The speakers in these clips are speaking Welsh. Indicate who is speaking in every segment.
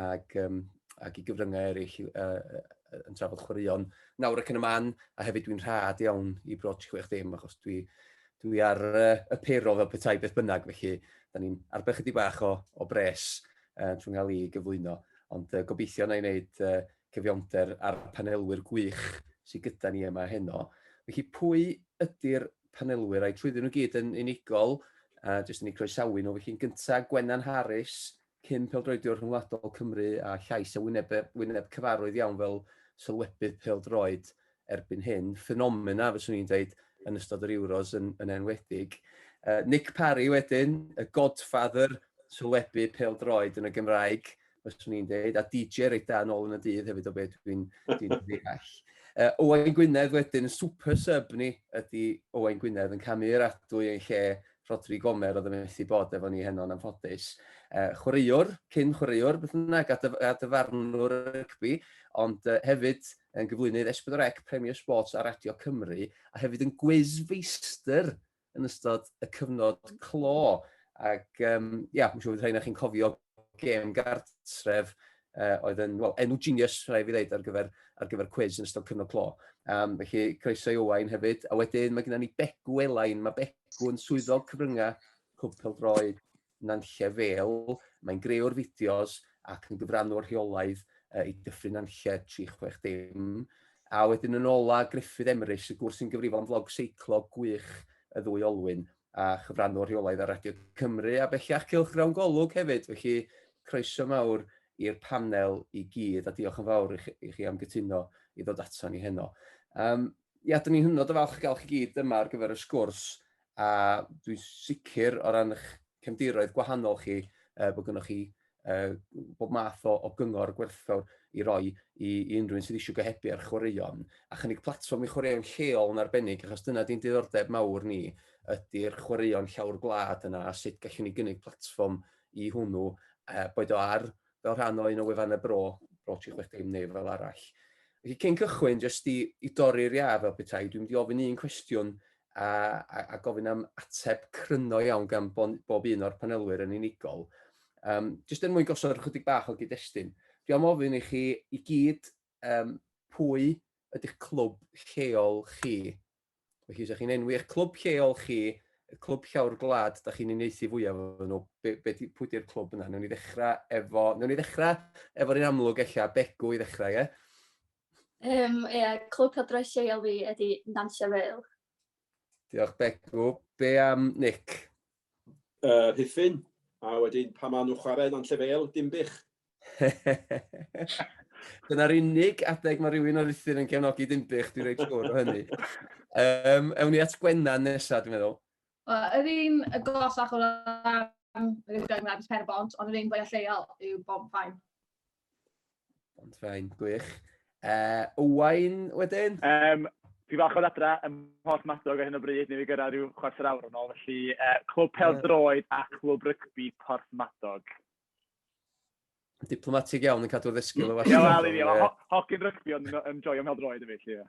Speaker 1: ac, um, ac i gyfryngau eraill uh, yn trafod chwaraeon nawr ac yn y man, a hefyd dwi'n rhad iawn i broch 60, achos dwi, dwi ar uh, y pero fel petai beth bynnag, felly da ni'n arbed chydig bach o, o bres uh, trwy'n cael ei gyflwyno, ond uh, gobeithio na i wneud uh, cyfiawnder a'r panelwyr gwych sydd gyda ni yma heno. Felly pwy ydy'r panelwyr a'i trwyddyn nhw gyd yn unigol, a jyst yn ei croesawu nhw, felly'n gyntaf Gwennan Harris, Cyn pêl-droediwr rhyngwladol Cymru a llais a wyneb wyneb cyfarwydd iawn fel sylwebydd pêl-droed erbyn hyn, ffenomena fyswn i'n dweud yn ystod yr Euros yn, yn enwedig. Uh, Nick Parry wedyn, y godfather sylwebu pêl-droed yn y Gymraeg, fyswn i'n dweud, a DJ reit da yn ôl yn y dydd hefyd o beth dwi'n dwi ddeall. Uh, Owain Gwynedd wedyn, super sub ni ydy Owain Gwynedd yn camu'r adwy yn lle Rhodri Gomer oedd yn methu bod efo ni heno yn anffodus. Uh, chwaraewr, cyn chwaraewr, beth yna, a, dyf a dyfarnwr rygbi, ond uh, hefyd yn gyflwynydd Esbydorec Premier Sports ar Radio Cymru, a hefyd yn gwiz feistr yn ystod y cyfnod clo. Ac, um, ia, yeah, mae'n siŵr bod rhain chi'n cofio gêm gartref uh, oedd yn, wel, enw genius, rhaid fi ddeud, ar gyfer, ar gyfer cwiz yn ystod cyfnod clo. Um, felly, croeso i Owain hefyd. A wedyn, mae gennym ni Begw Elain. Mae Begw yn swyddog cyfryngau Cwpel Droed Nanlle Fel. Mae'n greu'r fideos ac yn gyfrannu o'r rheolaidd uh, i dyffryn Nanlle 360. A wedyn yn ola, Griffith Emrys, y gwrs sy'n gyfrifol am flog seiclo gwych y ddwy olwyn. a chyfranwr rheolaidd ar Radio Cymru a bellach cylchgrawn Golwg hefyd, felly croeso mawr i'r panel i gyd a diolch yn fawr i chi, i chi am gytuno i ddod ato ni heno. Um, ia, dyn ni'n hynod o falch gael chi gyd yma ar gyfer y sgwrs a dwi'n sicr o ran eich cefndiroedd gwahanol chi uh, bod gennych chi uh, bob math o, o gyngor gwerthfawr i roi i, i unrhyw un sydd eisiau gohebu ar chwaraeon, a chynnig platfform i chwaraeon lleol yn arbennig, achos dyna di'n diddordeb mawr ni, ydy'r chwaraeon llawr gwlad yna, a sut gallwn ni gynnig platfform i hwnnw, uh, boed o ar fel rhan o un o wefan y bro, bro 360 neu fel arall. Felly cyn cychwyn, jyst i, i dorri'r iaf fel petai, dwi'n mynd i ofyn un cwestiwn a, a, a gofyn am ateb cryno iawn gan bob un o'r panelwyr yn unigol. Um, just er mwyn gosod ychydig bach o gyd-destun, dwi am ofyn i chi i gyd um, pwy ydych clwb lleol chi. Felly, ydych chi'n enwi eich clwb lleol chi, y clwb llawr gwlad, da chi'n uneithi fwyaf efo nhw, be, be, pwy di'r clwb yna? Newn ni ddechrau efo, newn ni ddechrau efo'r un amlwg eich ella, Begw i ddechrau, ie? Um,
Speaker 2: ie, clwb cadwraeth lleol fi ydy Nantlle Vale. Diolch
Speaker 1: Begw. Be am Nick? Yr
Speaker 3: Rhuthun, a wedyn pan maen nhw'n chwarae lan llefel, Dinbych.
Speaker 1: Dyna'r unig adeg mae rhywun o Rhuthun yn cefnogi Dinbych, dwi'n reit siwr o hynny. Um, ewn ni at Gwennan nesaf, dwi'n meddwl. Yr un
Speaker 4: y gosach o ran yr ugain wlad is Perbont, ond yr un fwyaf lleol yw Bonfaen.
Speaker 1: Ond fe'n gwych. Uh, Owain wedyn? Um, Fi fach
Speaker 5: o'r adra yn holl madog ar hyn o bryd, ni fi gyrra rhyw chwarter awr yn ôl, felly uh, clwb pel droed a chlwb rygbi Porth Madog.
Speaker 1: Diplomatig iawn yn cadw ddysgu o fach. Iawn, al i fi, ho
Speaker 5: hogyn rygbi ond yn joio pel droed y fi, felly.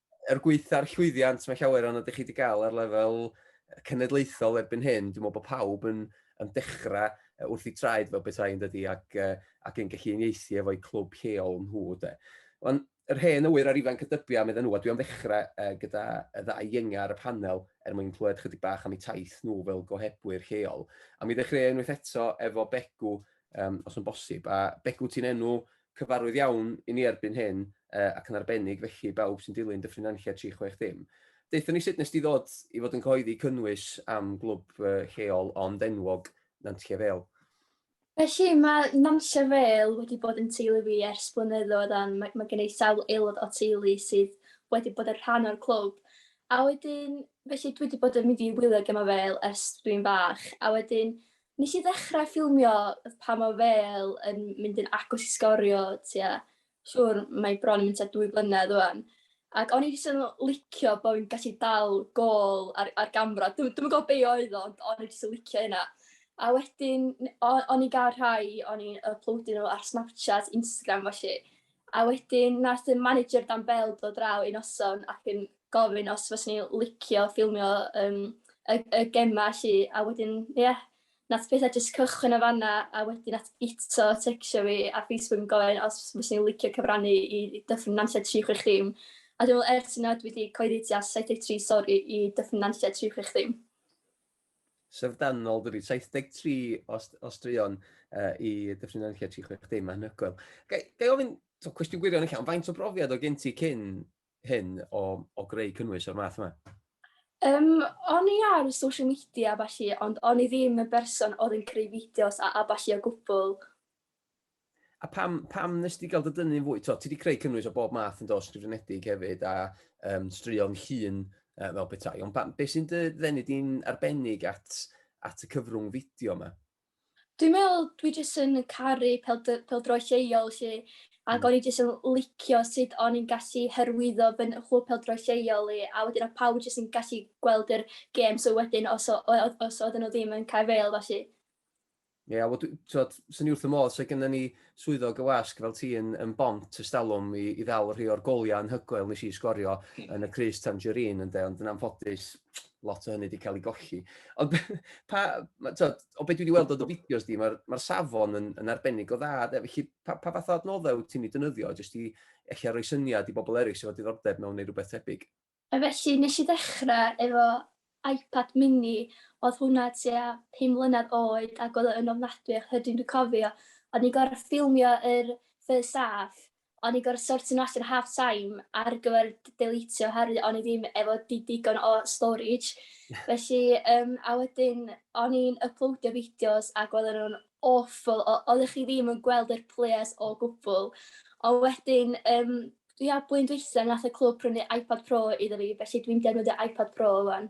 Speaker 1: er gweitha'r llwyddiant mae llawer o'n ydych chi wedi cael ar lefel cenedlaethol erbyn hyn, dwi'n meddwl bod pawb yn, yn dechrau wrth i traed fel bethau yn dydy ac, ac yn gallu unieithu efo'i clwb lleol nhw. De. Ond yr hen awyr a'r ifanc y dybiau, meddyn nhw, a dwi am ddechrau uh, gyda y ddau ienga ar y panel er mwyn clywed chydig bach am eu taith nhw fel gohebwyr lleol. A mi ddechrau unwaith eto efo Begw, um, os yn bosib. A Begw, ti'n enw Cyfarwydd iawn i ni erbyn hyn, ac yn arbennig felly i bawb sy'n dilyn Dyffryn Nantlle 360. Deuthon ni sut nes di ddod i fod yn cyhoeddi cynnwys am glwb lleol ond enwog, Nantlle Vale? Felly,
Speaker 2: mae Nantlle Vale wedi bod yn teulu fi ers blynyddoedd ond mae mae gen i sawl aelod o teulu sydd wedi bod yn rhan o'r clwb. A wedyn, felly dwi wedi bod yn mynd i wylio gemau Vale ers dwi'n fach a wedyn Nes i ddechra ffilmio pan o' fel yn mynd yn agos i sgorio tua siŵr mae bron yn mynd tua dwy flynedd ŵan ac o'n i jyst yn licio bo' fi'n gallu dal gôl ar ar gamra dw- dwi'm yn gwbo be' oedd o ond o'n i jyst yn licio hynna. A wedyn n- o- o'n i'n ga'l rhai o'n i'n yploadio n'w ar Snapchat Instagram felly A wedyn nath y manager dan bêl dod draw un noson ac yn gofyn os fyswn i licio ffilmio yym y y gema 'lly a wedyn ia nath petha jyst cychwyn yn fanna a wedyn nath Guto tecsio fi ar Facebook yn gofyn os fyswn i'n licio cyfrannu i Dyffryn Nantlle tri chwech dim a dwi me'wl ers hynna dwi 'di cyhoeddi tua saith deg tri stori i Dyffryn Nantlle tri chwech dim. syfrdanol
Speaker 1: dydi, 73 o, o straeon uh, i Dyffryn Nantlle 360, mae'n hygoel. Ga, ga i ofyn, so, cwestiwn gwirion yn llawn, faint o brofiad o gen ti cyn hyn o, o greu cynnwys o'r math yma? Um,
Speaker 2: o'n i ar social media a falle, ond o'n i ddim yn berson oedd yn creu fideos a, a falle o gwbl.
Speaker 1: A pam, pam nes ti gael dy dynnu'n fwy? To, ti wedi creu cynnwys o bob math yn dos sgrifenedig hefyd a um, straeon llun uh, fel petai. Ond pam, beth sy'n dy ddenu di'n arbennig at, at y cyfrwng fideo yma? Dwi'n meddwl,
Speaker 2: dwi jyst yn caru peldro lleol lle, ac mm. o'n i jyst yn licio sut o'n i'n gallu hyrwyddo fy chlwb peldro lleol i, a wedyn o pawb jyst yn gallu gweld yr gêm, so wedyn os oedd nhw ddim yn cael fel, felly Ie, yeah,
Speaker 1: wel, twod, sy'n ni wrth y modd, so gyda ni swyddog y wasg fel ti yn, yn bont ystalwm i, i ddal rhi o'r goliau yn hygoel nes i sgorio hmm. yn y Cris Tangerine, ynddo, ond yn anffodus, lot o hynny wedi cael ei golli. Ond pa, twod, o beth dwi wedi weld o dy fideos di, mae'r ma safon yn, yn arbennig o dda, de, felly pa, pa fath o adnoddau wyt ti'n ei dynyddio, jyst i eich roi syniad i bobl eraill sydd wedi ddordeb mewn neu rhywbeth tebyg? A felly nes i
Speaker 2: ddechra efo iPad mini odd hwnna tua pum mlynadd oed ag odd o yn ofnadwy o hyrdyn dwi'n cofio o'n i'n gor'o' ffilmio yr first half o'n i'n gor'o' sortio nw allan half time ar gyfer d- deletio oherwydd o'n i ddim efo di- digon o storage felly yym a wedyn o'n i'n yploadio fideos ag oddan nw'n aweful o- oddech chi ddim yn gweld yr players o gwbwl a wedyn yym Dwi a blwyddyn dwytha nath y clwb prynu iPad Pro iddo fi felly dwi'n defnyddio iPad Pro ŵan.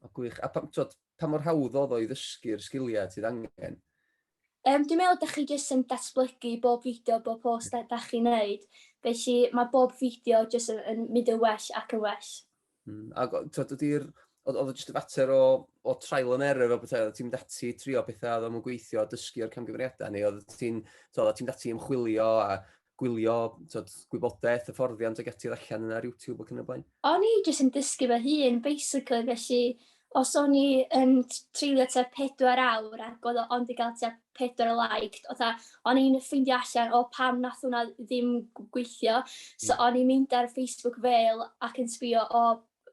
Speaker 2: O gwych,
Speaker 1: a pam t'wod pa mor hawdd odd o i ddysgu'r sgilia ti angen? Yym dwi'n
Speaker 2: meddwl dach chi jyst yn datblygu bob fideo bob post da- dach chi'n neud felly ma' bob fideo jyst yn yn mynd yn well ac yn well. Mm, ac o- t'od
Speaker 1: dydy'r... Oedd oedd o jyst y fater o o trial and error o bethau, oedd ti'n mynd ati trio pethau oedd o'm yn gweithio, dysgu o'r camgymeriadau, neu oedd ti'n t'od oeddet ti'n mynd ati ymchwilio a gwylio t'od gwybodaeth, hyfforddiant ac ati allan yna ar YouTube ac yn y blaen? O'n i jyst yn dysgu
Speaker 2: fy hun basically felly Os o'n i yn treulio tua pedwar awr ac oedd o ond 'di gael tua pedwar o liked, fatha o'n i'n ffeindio allan o pam wnaeth hwnna ddim g- gweithio. So o'n i'n mynd ar Facebook fel ac yn sbio o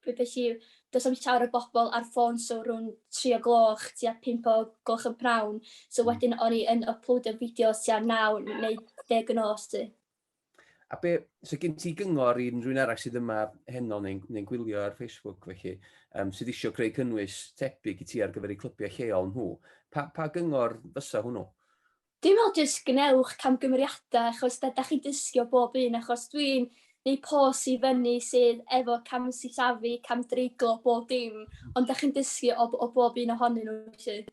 Speaker 2: b- be' sy does na'm llawer o bobl ar ffôn so rhwng tri o gloch tua pump o gloch y prynhawn. So wedyn o'n i yn yploadio fideos tua naw neu deg y nos 'lly. A be,
Speaker 1: so gen ti gyngor i unrhyw'n arall sydd yma heno neu'n neu gwylio ar Facebook felly, um, sydd eisiau creu cynnwys tebyg i ti ar gyfer eu clybiau lleol nhw, pa, pa gyngor fysa hwnnw? Dwi'n meddwl
Speaker 2: jyst gwnewch camgymeriadau achos da, da chi'n dysgu o bob un achos dwi'n neu pos i fyny sydd efo cam sillafu, cam dreiglo, bob dim, ond da chi'n dysgu o, o bob un ohonyn nhw felly.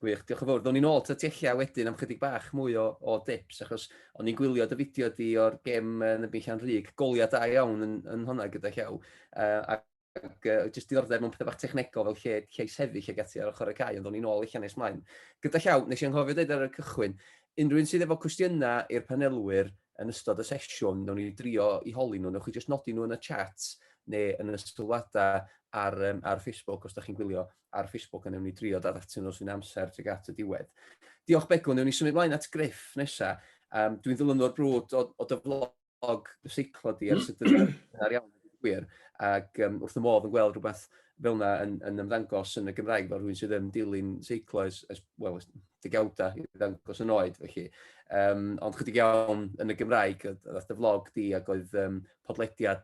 Speaker 2: Gwych,
Speaker 1: diolch yn fawr. Ddown ni nôl ta ti ella wedyn am chydig bach mwy o, o dips, achos o'n i'n gwylio dy fideo di o'r gem yn y Beichian Rhyg, goliad da iawn yn, yn hwnna gyda llaw, uh, ac ac uh, jyst diddordeb mewn pethau bach technegol fel lle, lle sefyll ag ati ar ochr y cae, ond o'n i'n ôl eich nes mlaen. Gyda llaw, nes i'n anghofio dweud ar y cychwyn, unrhyw un sydd efo cwestiynau i'r panelwyr yn ystod y sesiwn, nawn ni drio i holi nhw, newch chi jyst nodi nhw yn y chat neu yn y sylwadau ar, um, ar Facebook os da chi'n gwylio. ar Facebook a newn ni drio dod atyn nhw sy'n amser tuag at y diwedd. Diolch Begw, newn ni symud mlaen at Griff nesa. Um, dwi'n ddilynwr brwd o, o dy flog y seiclo di ar hmm. sut yn ar iawn gwir ac um, wrth y modd yn gweld rhywbeth fel yna yn, yn ymddangos yn y Gymraeg fel rhywun sydd yn dilyn seiclo ys, ys, well, digawdau i ddangos yn oed felly. Um, ond chydig iawn yn y Gymraeg, oedd y vlog di ac oedd um, podlediad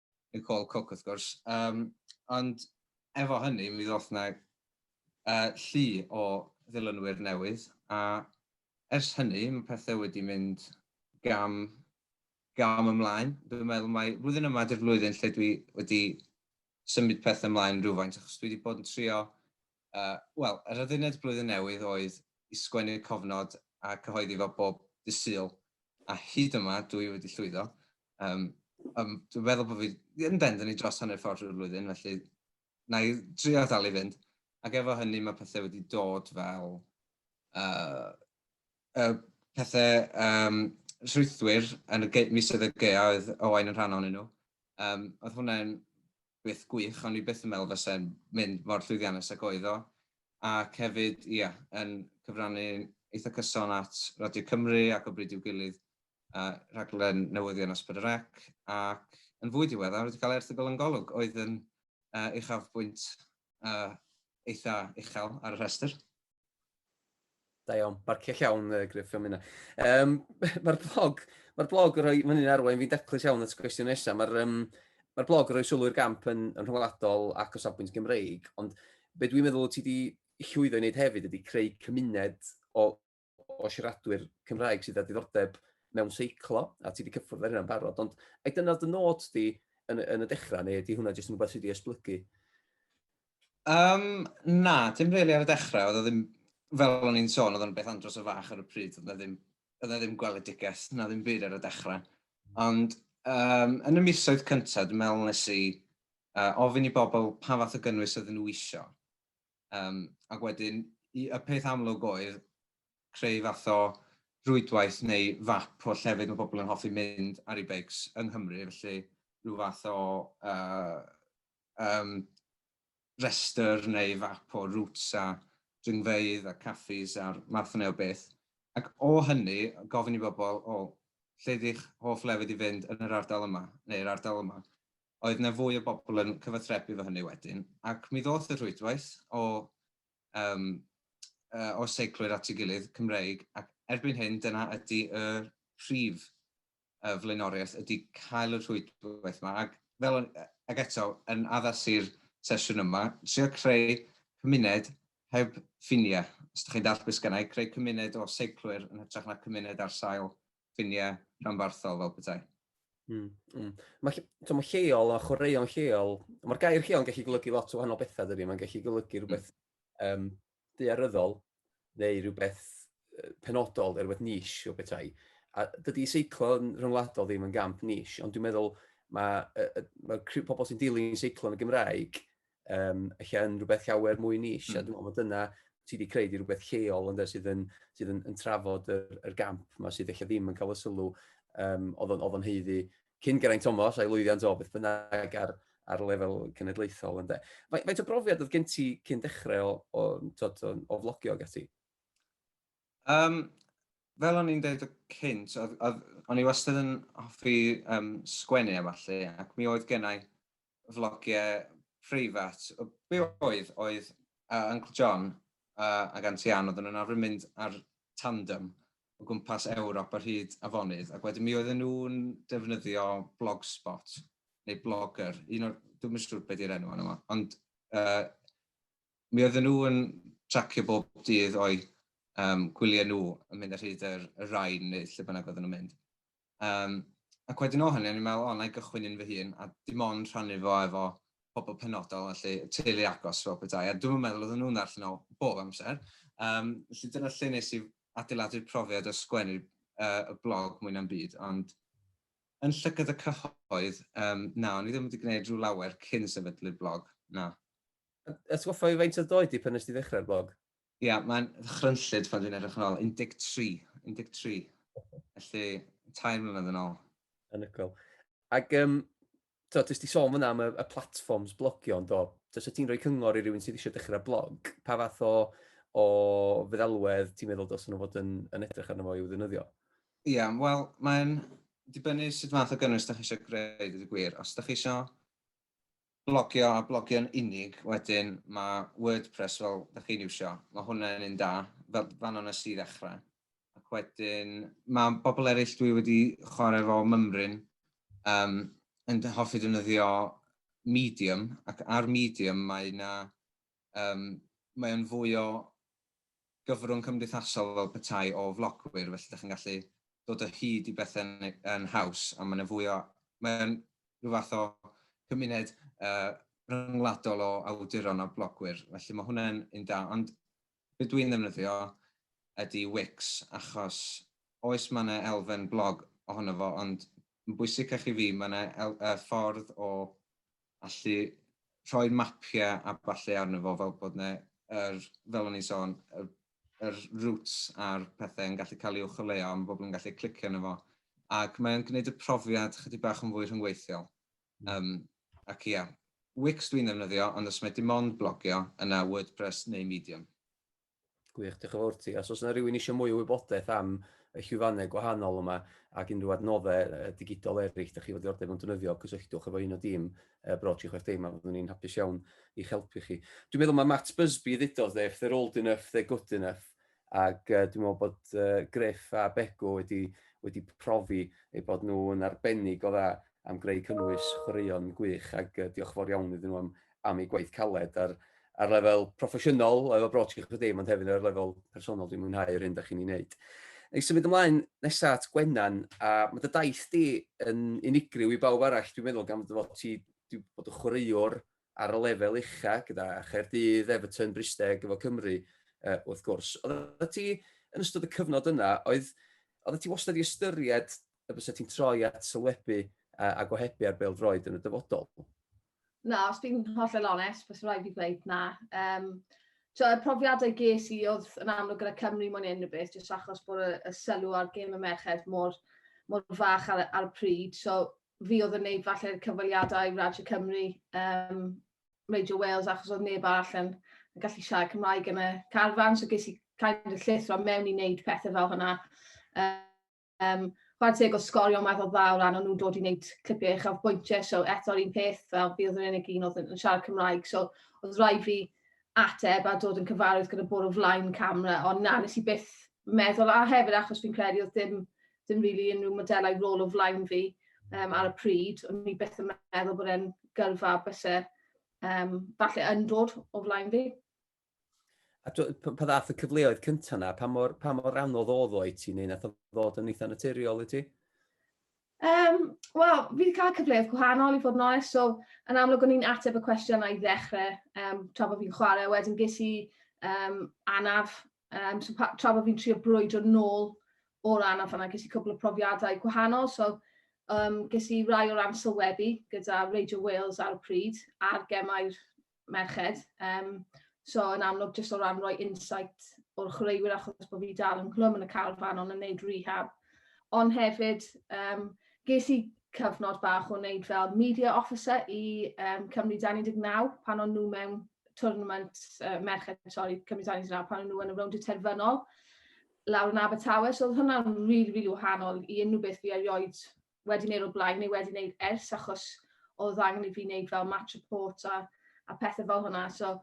Speaker 6: Nicole Cooke wrth gwrs. Um, ond efo hynny, mi ddoth na uh, llu o ddilynwyr newydd, a ers hynny mae pethau wedi mynd gam, gam ymlaen. Dwi'n meddwl mae flwyddyn yma di'r flwyddyn lle dwi wedi symud pethau ymlaen rhywfaint, achos dwi wedi bod yn trio Wel, yr adduned Blwyddyn Newydd oedd i sgwennu cofnod a cyhoeddi fo bob dydd Sul, a hyd yma dw i wedi llwyddo. Yym, yym, dwi'n meddwl bod fi yn bendant i dros hanner ffordd drwy'r flwyddyn, felly na i drio dal i fynd. Ac efo hynny mae pethau wedi dod fel uh, uh, pethau um, rhwythwyr yn y misoedd y gaeau oedd Owain yn rhan o'n nhw. Um, oedd hwnna'n beth gwych, o'n i byth yn meddwl fase'n mynd mor llwyddiannus ag oedd o, ac hefyd, ia, yn cyfrannu eitha cyson at Radio Cymru ac o bryd i'w gilydd uh, rhaglen newyddion Asper yr Ec, ac yn fwy diweddar wedi cael erthygl yn golwg oedd yn uh, uchafbwynt uh, eitha uchel ar y rhestr.
Speaker 1: Da iawn, barcio llawn uh, Griff am hynna. Um, Mae'r blog, mae'r blog yn rhoi, mae'n un arwain fi'n daclus iawn at gwestiwn nesaf, mae'r um, mae blog yn rhoi sylw i'r gamp yn, yn rhwngwladol ac o safbwynt Gymreig, ond be dwi'n meddwl ti wedi llwyddo i wneud hefyd ydy creu cymuned o, o siaradwyr Cymraeg sydd â diddordeb mewn seiclo, a ti wedi cyffwrdd ar hynna'n barod, ond ai dyna dy nod di yn, yn y dechrau, neu ydy hwnna jyst yn rhywbeth sydd wedi esblygu? Um,
Speaker 6: na, dim really ar y dechrau. Oedd ddim, fel o'n i'n sôn, oedd o'n beth andros o fach ar y pryd. Oedd na ddim, oedd na ddim gweledigaeth, na ddim byd ar y dechrau. Ond um, yn y misoedd cyntaf, dwi'n meddwl nes i uh, ofyn i bobl pa fath o gynnwys oedden nhw eisiau. Um, ac wedyn, y peth amlwg oedd creu fath o rwydwaith neu fap o llefydd mae pobl yn hoffi mynd ar ei beics yng Nghymru, felly rhyw fath o uh, um, restr neu fap o routes a dringfeydd a caffis a'r math yna o beth. Ac o hynny, gofyn i bobl, o, lle ydych hoff lefydd i fynd yn yr ardal yma, neu'r ardal yma. Oedd yna fwy o bobl yn cyfathrebu fo hynny wedyn, ac mi ddoth y rhwydwaith o, um, uh, o seiclwyr at ei gilydd, Cymreig, ac erbyn hyn dyna ydy y prif y flaenoriaeth ydy cael y rhwydwaith yma ac fel o'n, ac eto, yn addas i'r sesiwn yma, trio creu cymuned heb ffiniau. Os ydych chi'n dallt beth sgynna i, creu cymuned o seiclwyr yn hytrach na cymuned ar sail ffiniau rhanbarthol fel petai. Mm, mm.
Speaker 1: Mae, mae lleol a chwaraeon lleol, mae'r gair lleol yn gallu golygu lot o wahanol bethau dydy, mae'n gallu golygu rhywbeth mm. um, duaryddol, neu rhywbeth penodol, rhywbeth niche o bethau. A dydy seiclo yn rhyngwladol ddim yn gamp niche, ond dwi'n meddwl mae, mae pobl sy'n dilyn seiclo yn y Gymraeg um, eich yn rhywbeth llawer mwy niche, mm. a hmm. dwi'n meddwl dyna ti wedi creu di rhywbeth lleol ynddo sydd yn, sydd yn, yn trafod yr, yr gamp yma sydd eich ddim yn cael y sylw um, oedd o'n heiddi cyn Geraint Thomas a'i lwyddiant o beth bynnag ar, ar lefel cenedlaethol. Ynde. Faint o brofiad oedd gen ti cyn dechrau o, o, tod, o, o flogio ag ati? Um,
Speaker 6: fel o'n i'n dweud o cynt, o'n i wastad yn hoffi um, sgwennu a falle, ac mi oedd gennau flogiau preifat o be oedd, oedd yy Uncle John yy ag Auntie Ann oedden nhw'n arfer mynd ar tandem o gwmpas Ewrop ar hyd afonydd ac wedyn mi oedden nhw'n defnyddio Blogspot neu Blogger, un o'r, dwi'm yn siŵr be di'r enw arno fo, ond yy mi oedden nhw yn tracio bob dydd o'u yym gwyliau nhw yn mynd ar hyd yr y Rhine neu lle bynnag oedden nhw'n mynd. Yym, ac wedyn o hynny o'n i'n meddwl, o, na i gychwyn un fy hun, a dim ond rhannu fo efo pobl penodol, felly, y teulu agos fel petai, a dwi'm yn meddwl oedden nhw'n ddarllen o bob amser. Yym, felly dyna lle nes i adeiladu'r profiad o sgwennu uh, y blog mwy na'm byd, ond yn llygad y cyhoedd, um, na, o'n i ddim wedi gwneud rhyw lawer cyn sefydlu'r blog, na. Atgoffa
Speaker 1: fi faint oedd doed di pan nes ti ddechrau'r blog? Ia, mae'n
Speaker 6: ddychrynllyd pan dwi'n edrych yn ôl, 13, 13, felly tair mlynedd yn ôl. Anhygoel.
Speaker 1: Ac um, to, ti wedi sôn fyna am y, y platforms blogio, ond do, os ti'n rhoi cyngor i rywun sydd eisiau dechrau blog, pa fath o, o feddalwedd ti'n meddwl dos nhw fod yn, yn edrych arno fo i'w ddynyddio? Ie, yeah, wel,
Speaker 6: mae'n dibynnu sut fath o gynnwys da chi eisiau greu, dwi gwir. Os da chi eisiau blogio a blogio'n unig wedyn mae WordPress fel ydych chi'n iwsio, mae hwnna'n un da, fel fan o'n nes i ddechrau. Ac wedyn mae bobl eraill dwi wedi chwarae fo mymryn um, yn hoffi defnyddio Medium ac ar Medium mae yna Yym, mae o'n fwy o gyfrwng cymdeithasol fel petai o flogwyr, felly dych chi'n gallu dod o hyd i bethe yn yn haws, a mae yna fwy o... mae o'n rhyw fath o gymuned yy rhyngwladol o awduron a blogwyr, felly mae hwnna'n un da, ond be dwi'n ddefnyddio ydy Wix, achos oes mae yna elfen blog ohono fo, ond yn bwysicach i fi mae yna el- yy ffordd o allu rhoi mapiau a ballu arno fo fel bod yna, er, fel o'n i'n sôn, yr, yr routes a'r pethau yn gallu cael ei uwcholeuo, mae bobl yn gallu clicio arno fo, ac mae'n gwneud y profiad chydig bach yn fwy rhyngweithiol. Um, ac ia, Wix dwi'n ddefnyddio, ond os mae dim ond blogio, yna WordPress neu Medium. Gwych,
Speaker 1: diolch yn fawr ti. Os oes yna rhywun eisiau mwy o wybodaeth am y llwyfannau gwahanol yma ac unrhyw adnoddau digidol eraill, da chi fod i ordeb yn dynyddio, cysylltwch efo un o dîm uh, Bro 36 yma, fyddwn ni'n hapus iawn i'ch helpu chi. Dwi'n meddwl mae Matt Busby ddudodd dde, if they're old enough, they're good enough, ac uh, dwi'n meddwl bod uh, Griff a Bego wedi, wedi profi eu bod nhw'n arbennig o dda am greu cynnwys chwaraeon gwych, ac uh, diolch fawr iawn iddyn nhw am, am eu gwaith caled ar ar lefel proffesiynol, lefel broadcast chi'ch ddim, ond hefyd ar lefel personol dwi'n mwynhau yr hyn da chi'n ei wneud. Ei symud ymlaen nesa at Gwenan, a mae dy daith di yn unigryw i bawb arall, dwi'n meddwl, gan fod ti wedi bod yn chwaraewr ar y lefel ucha gyda Chaerdydd, Everton, Bristeg, efo Cymru, uh, wrth gwrs. Oedd ti, yn ystod y cyfnod yna, oedd, oedd ti wastad i ystyried y bys ti'n troi at sylwebu a, a gohebu ar bel droed yn y dyfodol? Na, os
Speaker 4: dwi'n hollol onest, fes rhaid i ddweud na. Um, so, y profiadau ges i oedd yn amlwg gyda Cymru mwyn unrhyw beth, jyst achos bod y, y sylw ar gêm y merched mor, mor fach ar, ar y pryd. So, fi oedd yn neud falle'r cyfweliadau i Radio Cymru, um, Radio Wales, achos oedd neb arall yn, yn gallu siarad Cymraeg yn y carfan, so ges i kind of llithro mewn i wneud pethau fel hynna. Um, Um, chwarae teg o sgorio math o dda o ran o'n nhw'n dod i wneud clipiau eich o'r bwyntiau, so eto'r un peth fel fi oedd yn unig un oedd yn siarad Cymraeg, so oedd rhaid fi ateb a dod yn cyfarwydd gyda bod o flaen camera, ond na, nes i byth meddwl, a hefyd achos fi'n credu oedd dim, dim really unrhyw modelau rôl o flaen fi um, ar y pryd, ond ni byth yn meddwl bod e'n gyrfa bysau um, falle yn dod o flaen fi. A
Speaker 1: dw, pa ddath y cyfleoedd cyntaf yna? Pa mor, pa mor anodd oedd o i ti, neu nath o ddod yn eitha naturiol i ti? Um, Wel,
Speaker 4: fi wedi cael cyfleoedd gwahanol i fod yn onest, so yn amlwg o'n i'n ateb y cwestiwn i ddechrau um, tra bod fi'n chwarae, wedyn ges i um, anaf, um, so tra bod fi'n trio brwydro nôl o'r anaf yna, ges i cwbl o profiadau gwahanol, so um, ges i rai o ran sylwebu gyda Radio Wales ar y pryd a'r gemau'r merched. Um, so yn amlwg jyst o ran rhoi insight o'r chwaraewyr achos bod fi dal yn glwm yn y carfan ond yn neud rehab. Ond hefyd, um, ges i cyfnod bach o wneud fel media officer i um, Cymru 19 pan o'n nhw mewn tournament uh, merched, sorry, Cymru 19 pan o'n nhw yn y rownd y terfynol lawr yn Abertawe. So oedd hwnna'n rili, really, rili really wahanol i unrhyw beth fi erioed wedi wneud o'r blaen neu wedi wneud ers achos oedd angen i fi wneud fel match report a, a pethau fel hwnna. So,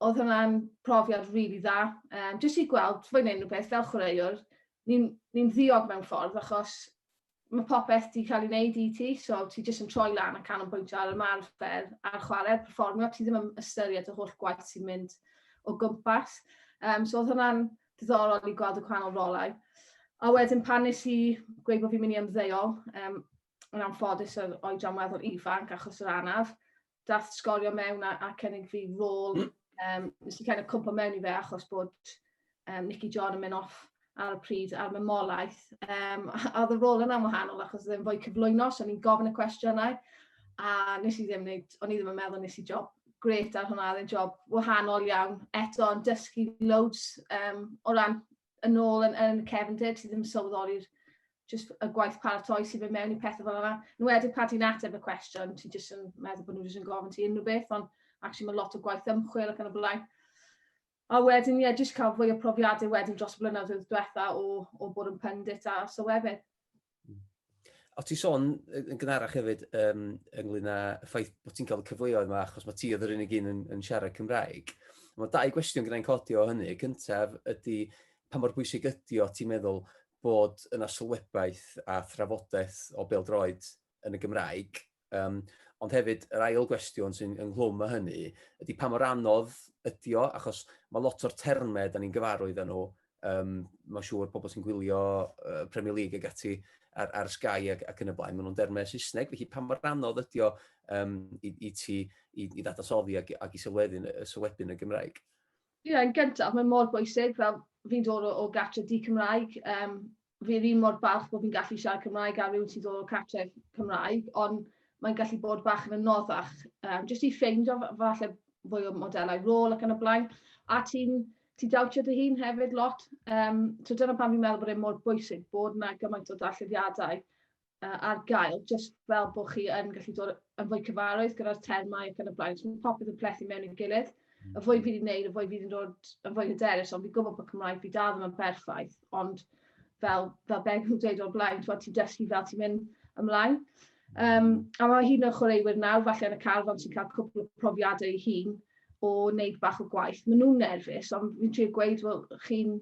Speaker 4: oedd hwnna'n profiad rili really dda. Um, jyst i gweld, fwy wneud rhywbeth fel chwaraewr, ni'n ni, ddiog mewn ffordd achos mae popeth wedi cael ei wneud i ti, so ti jyst yn troi lan a canolbwyntio ar ymarfer a'r chwarae, performio, ti ddim yn ystyried y holl gwaith sy'n mynd o gwmpas. Um, so oedd hwnna'n diddorol i gweld y gwahanol rolau. A wedyn pan nes i gweud bod fi'n mynd i ymddeol, um, yn anffodus yr oedran weddol ifanc achos yr anaf, dath sgorio mewn a, a cynnig fi rôl, um, nes i cael y cwmpa mewn i fe achos bod um, Nicky John yn mynd off ar y pryd ar mamolaeth. Um, a oedd y rôl yna'n wahanol achos ddim fwy cyflwyno, so ni'n gofyn y cwestiynau, a nes i ddim wneud, o'n i ddim yn meddwl nes i job grêt ar hwnna, oedd e'n job wahanol iawn. Eto yn dysgu loads um, o ran yn ôl yn, yn cefndir, ti ddim yn sylweddoli'r just y gwaith paratoi sy'n mynd mewn i pethau fel yna. Nw wedi pa ti'n ateb y cwestiwn, ti jyst yn meddwl bod nhw jyst yn gofyn ti unrhyw beth, ond actually mae lot o gwaith ymchwil ac yn y blaen. A wedyn ie jyst cael fwy o profiadau wedyn dros y blynyddoedd diwetha' o o bod yn pundit a sylwebydd. Hmm.
Speaker 1: O ti sôn yn gynharach hefyd yym ynglŷn â y ffaith bod ti'n cael y cyfleoedd yma achos mae ti oedd yr unig un yn yn siarad Cymraeg. Mae dau gwestiwn gyda'n codi o hynny. Cyntaf ydy pa mor bwysig ydy o ti'n meddwl bod yna sylwebaeth a thrafodaeth o bêl-droed yn y Gymraeg, um, ond hefyd yr ail gwestiwn sy'n ynghlwm â hynny ydy pa mor anodd ydy o, achos mae lot o'r termau da ni'n gyfarwydd â nhw, um, mae'n siŵr pobl sy'n gwylio uh, Premier League ag ati ar, ar Sky ac, ac yn y blaen, maen nhw'n dermau Saesneg, felly pa mor anodd ydy o um, i, i ti i, i ddadansoddi ac, ac i sylweddyn y sylwebyn y Gymraeg? Ie yn gyntaf
Speaker 4: mae mor bwysig fel fi'n dod o o gartre di-Cymraeg yym fi yr un mor balch bo' fi'n gallu siarad Cymraeg â rywun sydd o cartref Cymraeg on' mae'n gallu bod bach yn anoddach yym jyst i ffeindio f- falle fwy o modelau rôl ac yn y blaen a ti'n ti'n dawtio dy hun hefyd lot yym so dyna pam fi'n meddwl bod e mor bwysig bod 'na gymaint o darllediadau uh, ar gael, jyst fel bod chi yn gallu dod yn fwy cyfarwydd gyda'r termau ac yn y blaen. So, mae popeth yn plethu mewn i'r gilydd. Mm. Y fwy fi wedi gwneud, y fwy fi wedi dod yn fwy hyderus, ond fi'n gwybod bod Cymraeg fi dal ddim yn berffaith, ond fel, fel beth nhw'n dweud o'r blaen, ti'n dysgu fel ti'n mynd ymlaen. Um, a mae hyn yn chwaraewyr nawr, falle yn y carfan sy'n cael cwpl o profiadau ei hun o wneud bach o gwaith. Maen nhw'n nerfus, ond fi'n trio gweud, wel, chi'n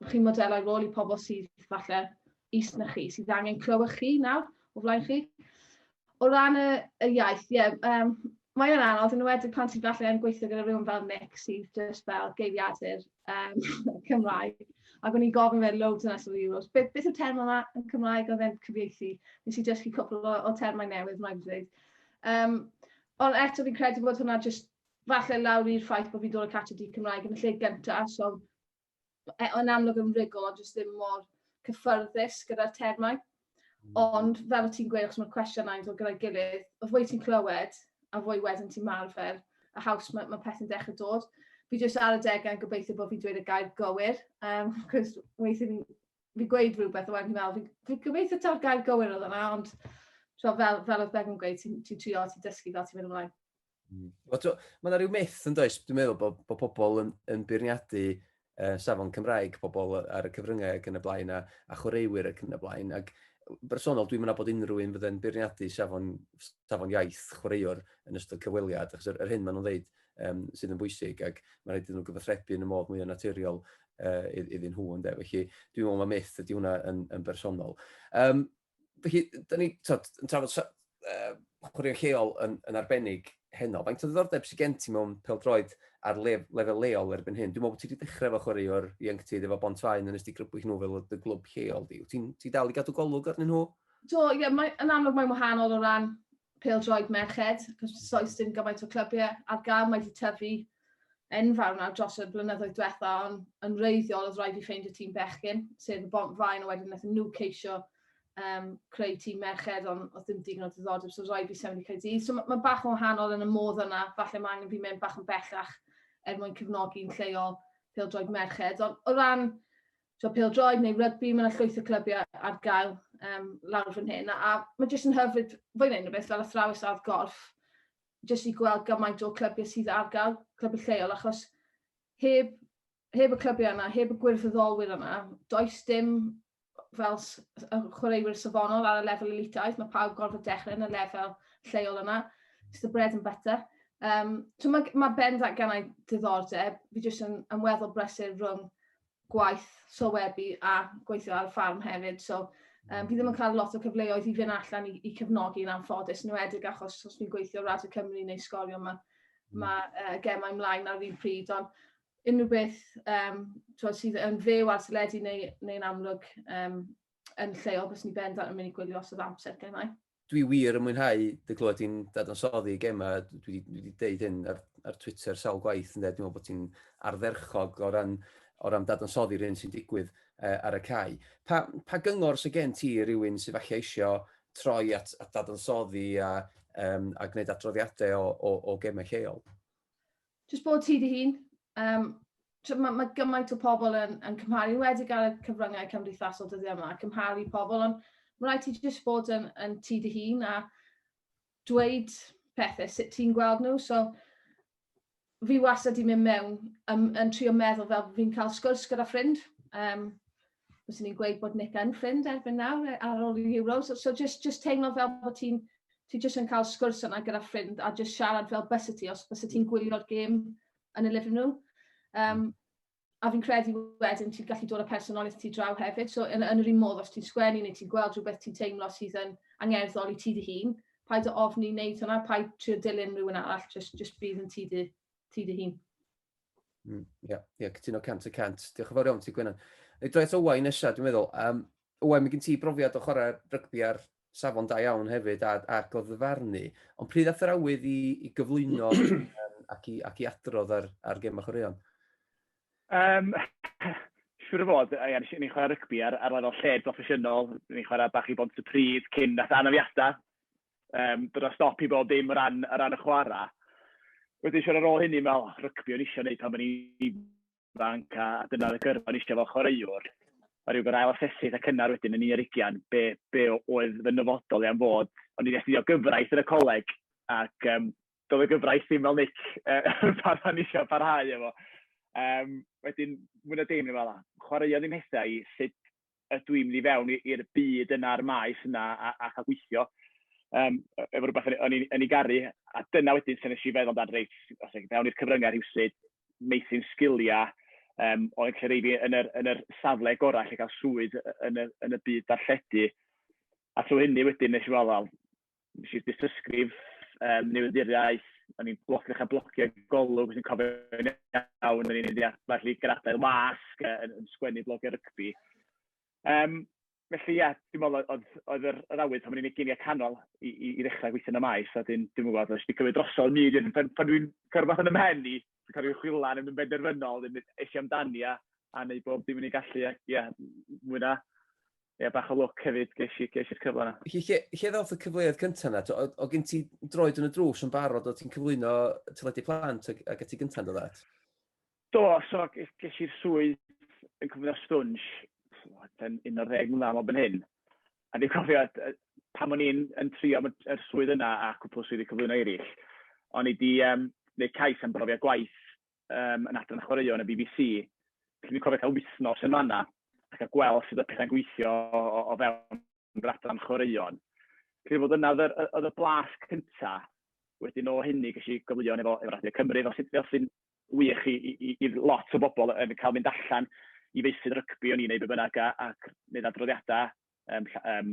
Speaker 4: Ydych chi'n modelau rôl i pobl sydd falle is na chi, sydd angen clywed chi nawr o flaen chi? O ran y, y iaith, ie, yeah, um, mae o'n anodd, yn wedi pan ti'n falle yn gweithio gyda rhywun fel Nick sydd just fel geiriadur um, Cymraeg. Ac o'n i'n gofyn fe loads yn ystod y Euros, beth, beth yw'r term yma yn Cymraeg oedd e'n cyfieithu? Nes i dysgu cwpl o, o termau newydd, mae'n dweud. Um, ond eto fi'n credu bod hwnna just falle lawr i'r ffaith bod fi'n dod o Cata Di Cymraeg yn y lle gyntaf, so e, yn amlwg yn rigol, ond jyst ddim mor cyffyrddus gyda'r termau. Hmm. Ond fel o ti'n gweud, achos mae'r cwestiynau yn dod gyda'i gilydd, y fwy ti'n clywed, a fwy wedyn ti'n marfer, a haws mae, mae pethau'n dechrau dod. Fi jyst ar y degau yn gobeithio bod fi'n dweud y gair gywir, um, cos weithio fi'n fi gweud rhywbeth, a wedyn fi'n meddwl, fi'n fi gobeithio ta'r gair gywir oedd yna, ond so, fel, fel oedd Bevan yn gweud, ti'n ti trio, ti'n dysgu fel ti'n mynd ymlaen. Mm.
Speaker 1: Mae yna rhyw myth yn does, dwi'n meddwl bod, bod pobl yn, yn beirniadu uh, safon Cymraeg pobl ar y cyfryngau ac yn y blaen a, a chwaraewyr ac yn y blaen. Ac bersonol, dwi'n meddwl bod unrhyw un fydde'n beirniadu safon, safon iaith chwaraewr yn ystod cyfweliad, achos yr, yr hyn maen nhw'n dweud um, sydd yn bwysig, ac mae'n rhaid iddyn nhw gyfathrebu yn y modd mwy o naturiol uh, iddyn nhw, ynddo. Felly, dwi'n meddwl mae myth ydy hwnna yn, yn bersonol. Um, Felly, da ni, tod, yn trafod uh, chwaraeon lleol yn, yn arbennig heno. Faint o ddiddordeb sy'n gen ti mewn peldroed ar lef, lefel leol erbyn hyn? Dwi'n meddwl bod ti wedi dechrau efo chwarae o'r ieuenctid efo Bont Faen yn ystod grybwyll nhw fel y glwb lleol di. Ti'n ti dal i gadw golwg arnyn nhw? Do, ie, yeah, yn
Speaker 4: amlwg mae'n wahanol o ran pêl-droed merched, cos soes dim gymaint o clybiau ar gael, mae wedi tyfu enfawr nawr dros y blynyddoedd diwetha, ond yn reiddiol oedd rhaid i ffeindio tîm bechgyn, sef y bont fain, a wedyn wnaethon nhw ceisio um, creu tîm merched, ond oedd ddim digon o ddiddordeb, so rhaid fi sefyll i cael dydd. So mae ma bach o wahanol yn y modd yna, falle mae angen fi mewn bach yn bellach er mwyn cefnogi'n lleol pêl-droed merched. Ond o ran so pêl-droed neu rygbi, mae yna llwyth o clybiau ar gael um, lawr fan hyn, a mae jyst yn hyfryd, fwy neu'n rhywbeth fel athrawes ar golf, jyst i gweld gymaint o clybiau sydd ar gael, clybiau lleol, achos heb, heb y clybiau yna, heb y gwirfoddolwyr yna, does dim fel chwaraewyr safonol ar y lefel elitaidd, mae pawb gorfod dechrau yn y lefel lleol yna, it's the bread and butter. Um, so mae, mae Ben ddatganau diddordeb, fi jyst yn ymweddol brysur rhwng gwaith sylwebu a gweithio ar y ffarm hefyd, so um, fi ddim yn cael lot o cyfleoedd i fynd allan i, i cefnogi yn anffodus, yn wedig achos os fi'n gweithio Radio Cymru neu sgorio mae mm. ma, uh, gemau mlaen ar un pryd, ond unrhyw beth um, twod, sydd yn fyw ar teledu neu'n neu, neu amlwg um, yn lleol, bys ni bendant yn mynd i gwylio os oedd amser gennau. dwi wir yn mwynhau
Speaker 1: dy glywed ti'n dadansoddi Gemma, dwi wedi deud hyn ar, ar Twitter sawl gwaith, ynde, dwi'n meddwl bod ti'n ardderchog o ran, o ran dadansoddi'r hyn sy'n digwydd uh, ar y cae. Pa, pa gyngor sy'n gen ti rhywun sy'n falle eisiau troi at, at dadansoddi a, um, a gwneud adroddiadau o, o, o gemau lleol? Jyst bod
Speaker 4: ti dy hun. Um, mae ma gymaint o pobl yn, yn cymharu, wedi gael y cyfryngau cymdeithasol dyddiau yma, cymharu pobl, ond mae rhaid ti jyst bod yn, yn ti dy hun a dweud pethau sut ti'n gweld nhw. So, fi wastad wedi mynd mewn yn, yn trio meddwl fel fi'n cael sgwrs gyda ffrind. Um, fyswn i'n gweud bod Nick yn ffrind erbyn nawr e- ar ôl i'r Euros. So, so just, just teimlo fel bod ti'n ti just yn cael sgwrs yna gyda ffrind a just siarad fel bys y ti os bys y ti'n gwylio'r gêm yn y living room. Um, a fi'n credu wedyn ti'n gallu dod â personoliaeth ti draw hefyd. So yn, yn yr un modd, os ti'n sgwennu neu ti'n gweld rhywbeth ti'n teimlo sydd yn angerddol i ti dy hun, paid o ofni wneud hwnna, paid trio dilyn rhywun arall, just, just bydd yn ti dy, ti dy hun. Mm,
Speaker 1: yeah, yeah, cytuno cant y cant. Diolch yn fawr iawn ti, Gwenan. Ei droi at Owain nesaf, dwi'n meddwl. Um, Owain, mae gen ti brofiad o chwarae rygbi ar safon da iawn hefyd a, a goddyfarnu. Ond pryd ath yr awydd i, i gyflwyno um, ac, i, ac i adrodd ar, ar gem a chwaraeon? Um,
Speaker 5: siwr o fod, ia, nes i chwarae rygbi ar, ar lefel lled broffesiynol, nes i chwarae bach i bont y pryd cyn nath anafiadau, Yym, bod o'n stop i bob dim o ran o ran y chwarae. Wedyn siŵr ar ôl hynny me'wl, o rygbi o'n i isio wneud pan o'n i'n ifanc, a dyna oedd y gyrfa o'n i isio fel chwaraewr. A ryw gorau ail-asesu eitha' cynnar wedyn yn un ar ugain, be be oedd fy nyfodol i am fod. O'n i 'di astudio gyfraith yn y coleg, ac yym, doedd y gyfraith ddim fel Nick yy pan o'n i isio parhau efo. Yym, wedyn mwy na dim o'n i'n me'wl, o, chwaraeon ddim hithau i, sut ydw i'n mynd i fewn i i'r byd yna a'r maes yna a a chael gweithio, yym, e- efo rywbeth o'n i o'n i'n garu. A dyna wedyn lle wnes i feddwl amdan, reit, os wnei di fewn i'r cyfryngau rhywsut, meithrin sgiliau, yym, oedd yn lle rhoi fi yn yr yn yr safle gorau i allu cael swydd y- yn y yn y byd darlledu. A trwy hynny wedyn wnes i weld, wel, wnes i dystysgrif um, newyddiaeth, o'n i'n bloc, ddechrau blocio golwg, sy'n cofio yn iawn, o'n i'n mynd i adfer i gradau'r wasg yn, yn sgwennu blog ar rygbi. Um, felly, ia, dwi'n meddwl, oedd, oedd yr, yr awydd pan o'n i'n eginiau canol i, i, i ddechrau gweithio yn y maes, a dwi'n dwi gwybod, os di cymryd drosodd myd, pan, pan dwi'n cyrfath yn ymhen i, sy'n cael ei chwilio arnyn nhw'n benderfynol, wedyn es i amdani a a wneud bob dim yn ei gallu, a ie, mwy na, ie, bach o lwc hefyd, ges i'r ges i'r cyfle yna. Felly, lle, lle ddoth y cyfleoedd
Speaker 1: cyntaf yna? O, o gen ti droed yn y drws yn barod, o ti'n cyflwyno teledu plant ac, ac ati gyntaf yn dod at? Do,
Speaker 5: so ges i'r swydd yn cyflwyno stwnsh, yn un o'r ddeg mlynedd am hyn. A dwi'n cofio pan o'n i'n yn trio y swydd yna a cwpwl o swyddi cyflwyno eraill, o'n i 'di yym wneud cais am brofiad gwaith yym yn adran chwaraeon y BBC, felly dwi'n cofio cael wythnos yn fan'na a cael gweld sut oedd pethau'n gweithio o o fewn yr adran chwaraeon. Credu fod yna oedd yr oedd y blas cynta, wedyn o hynny ges i gyfleon efo efo Radio Cymru, fel sy fel sy'n wych i i i i lot o bobl yn cael mynd allan i feysydd rygbi o'n i'n wneud be bynnag, a ac wneud adroddiadau yym lla- yym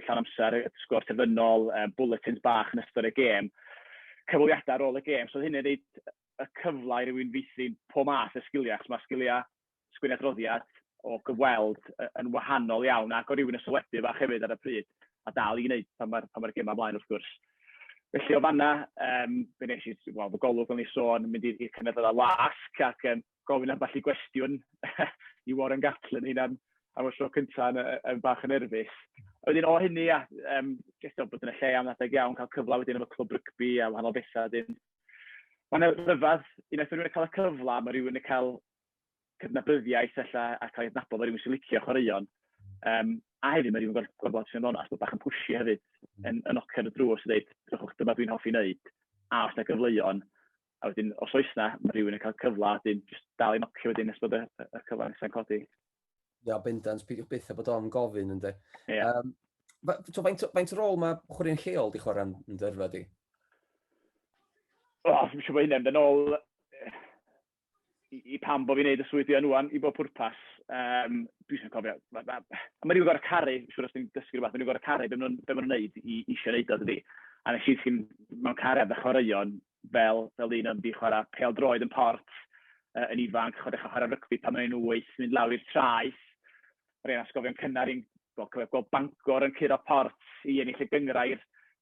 Speaker 5: llawn amser, sgôr terfynol, yy bwletins bach yn ystod y gêm, cyfweliadau ar ôl y gêm. So oedd hynny'n rhoid y cyfle i rywun feithrin pob math o sgiliau, achos ma' sgiliau sgwennu adroddiad o gyfweld y- yn wahanol iawn, ac o' rywun yn sylwebu fach hefyd ar y pryd, a dal i wneud pan mae'r pan mae'r gemau ymlaen wrth gwrs. Felly o fanna, yym, fe wnes i, wel, fy golwg fel o'n i'n sôn, mynd i'r i'r cynadledda wasg ac yym gofyn ambell i gwestiwn i Warren Gatland, ni'n am y tro cynta' yn yy yn bach yn nerfus. A wedyn o hynny a yym jyst o bod yn y lle am adeg iawn, cael cyfle wedyn efo clwb rygbi a wahanol betha wedyn. Mae'n rhyfedd, unwaith ma' rywun yn cael y cyfle, ma' rywun yn cael cydnabyddiaeth ella, a cael ei adnabod fel rhywun sy'n licio chwaraeon. Um, a hefyd mae rhywun gorfod gweld bod sy'n ddonas, bod bach yn pwysio hefyd, yn, yn ochr y drws, dweud, rhywbeth dyma dwi'n hoffi wneud, a os na gyfleuon, a wedyn, os oes na, mae rhywun yn cael cyfle, a wedyn, just dal i'n ochr wedyn nes bod y, y, y cyfle nesau'n codi. Ia, bendant,
Speaker 1: peidiwch byth a bod o'n gofyn, ynddo. Yeah.
Speaker 5: Um, so, faint,
Speaker 1: faint rôl mae chwaraeon lleol di chwarae yn dyrfa di? O,
Speaker 5: oh, dwi'n siŵr bod hynny'n dyn ôl i i pam bo' fi'n wneud y swydd dwi yn ŵan, i bob pwrpas. Yym, dwi jyst yn cofio, ma' ma'... a ma' rywun gorod caru, siŵr os ti'n dysgu rywbeth, ma' rywun gorod caru be' ma' nhw'n be' ma' nhw'n wneud i isio wneud o, dydi? A wnes i ddisgyn mewn cariad â chwaraeon, fel fel un oedd 'di chwarae pêl-droed yn Port, yy, yn ifanc, a dechrau chwarae rygbi pan o'n i'n wyth, mynd lawr i'r traeth. yr hen atgofion cynnar i'n gweld cofio gweld Bangor yn curo Port i ennill y gynghrair.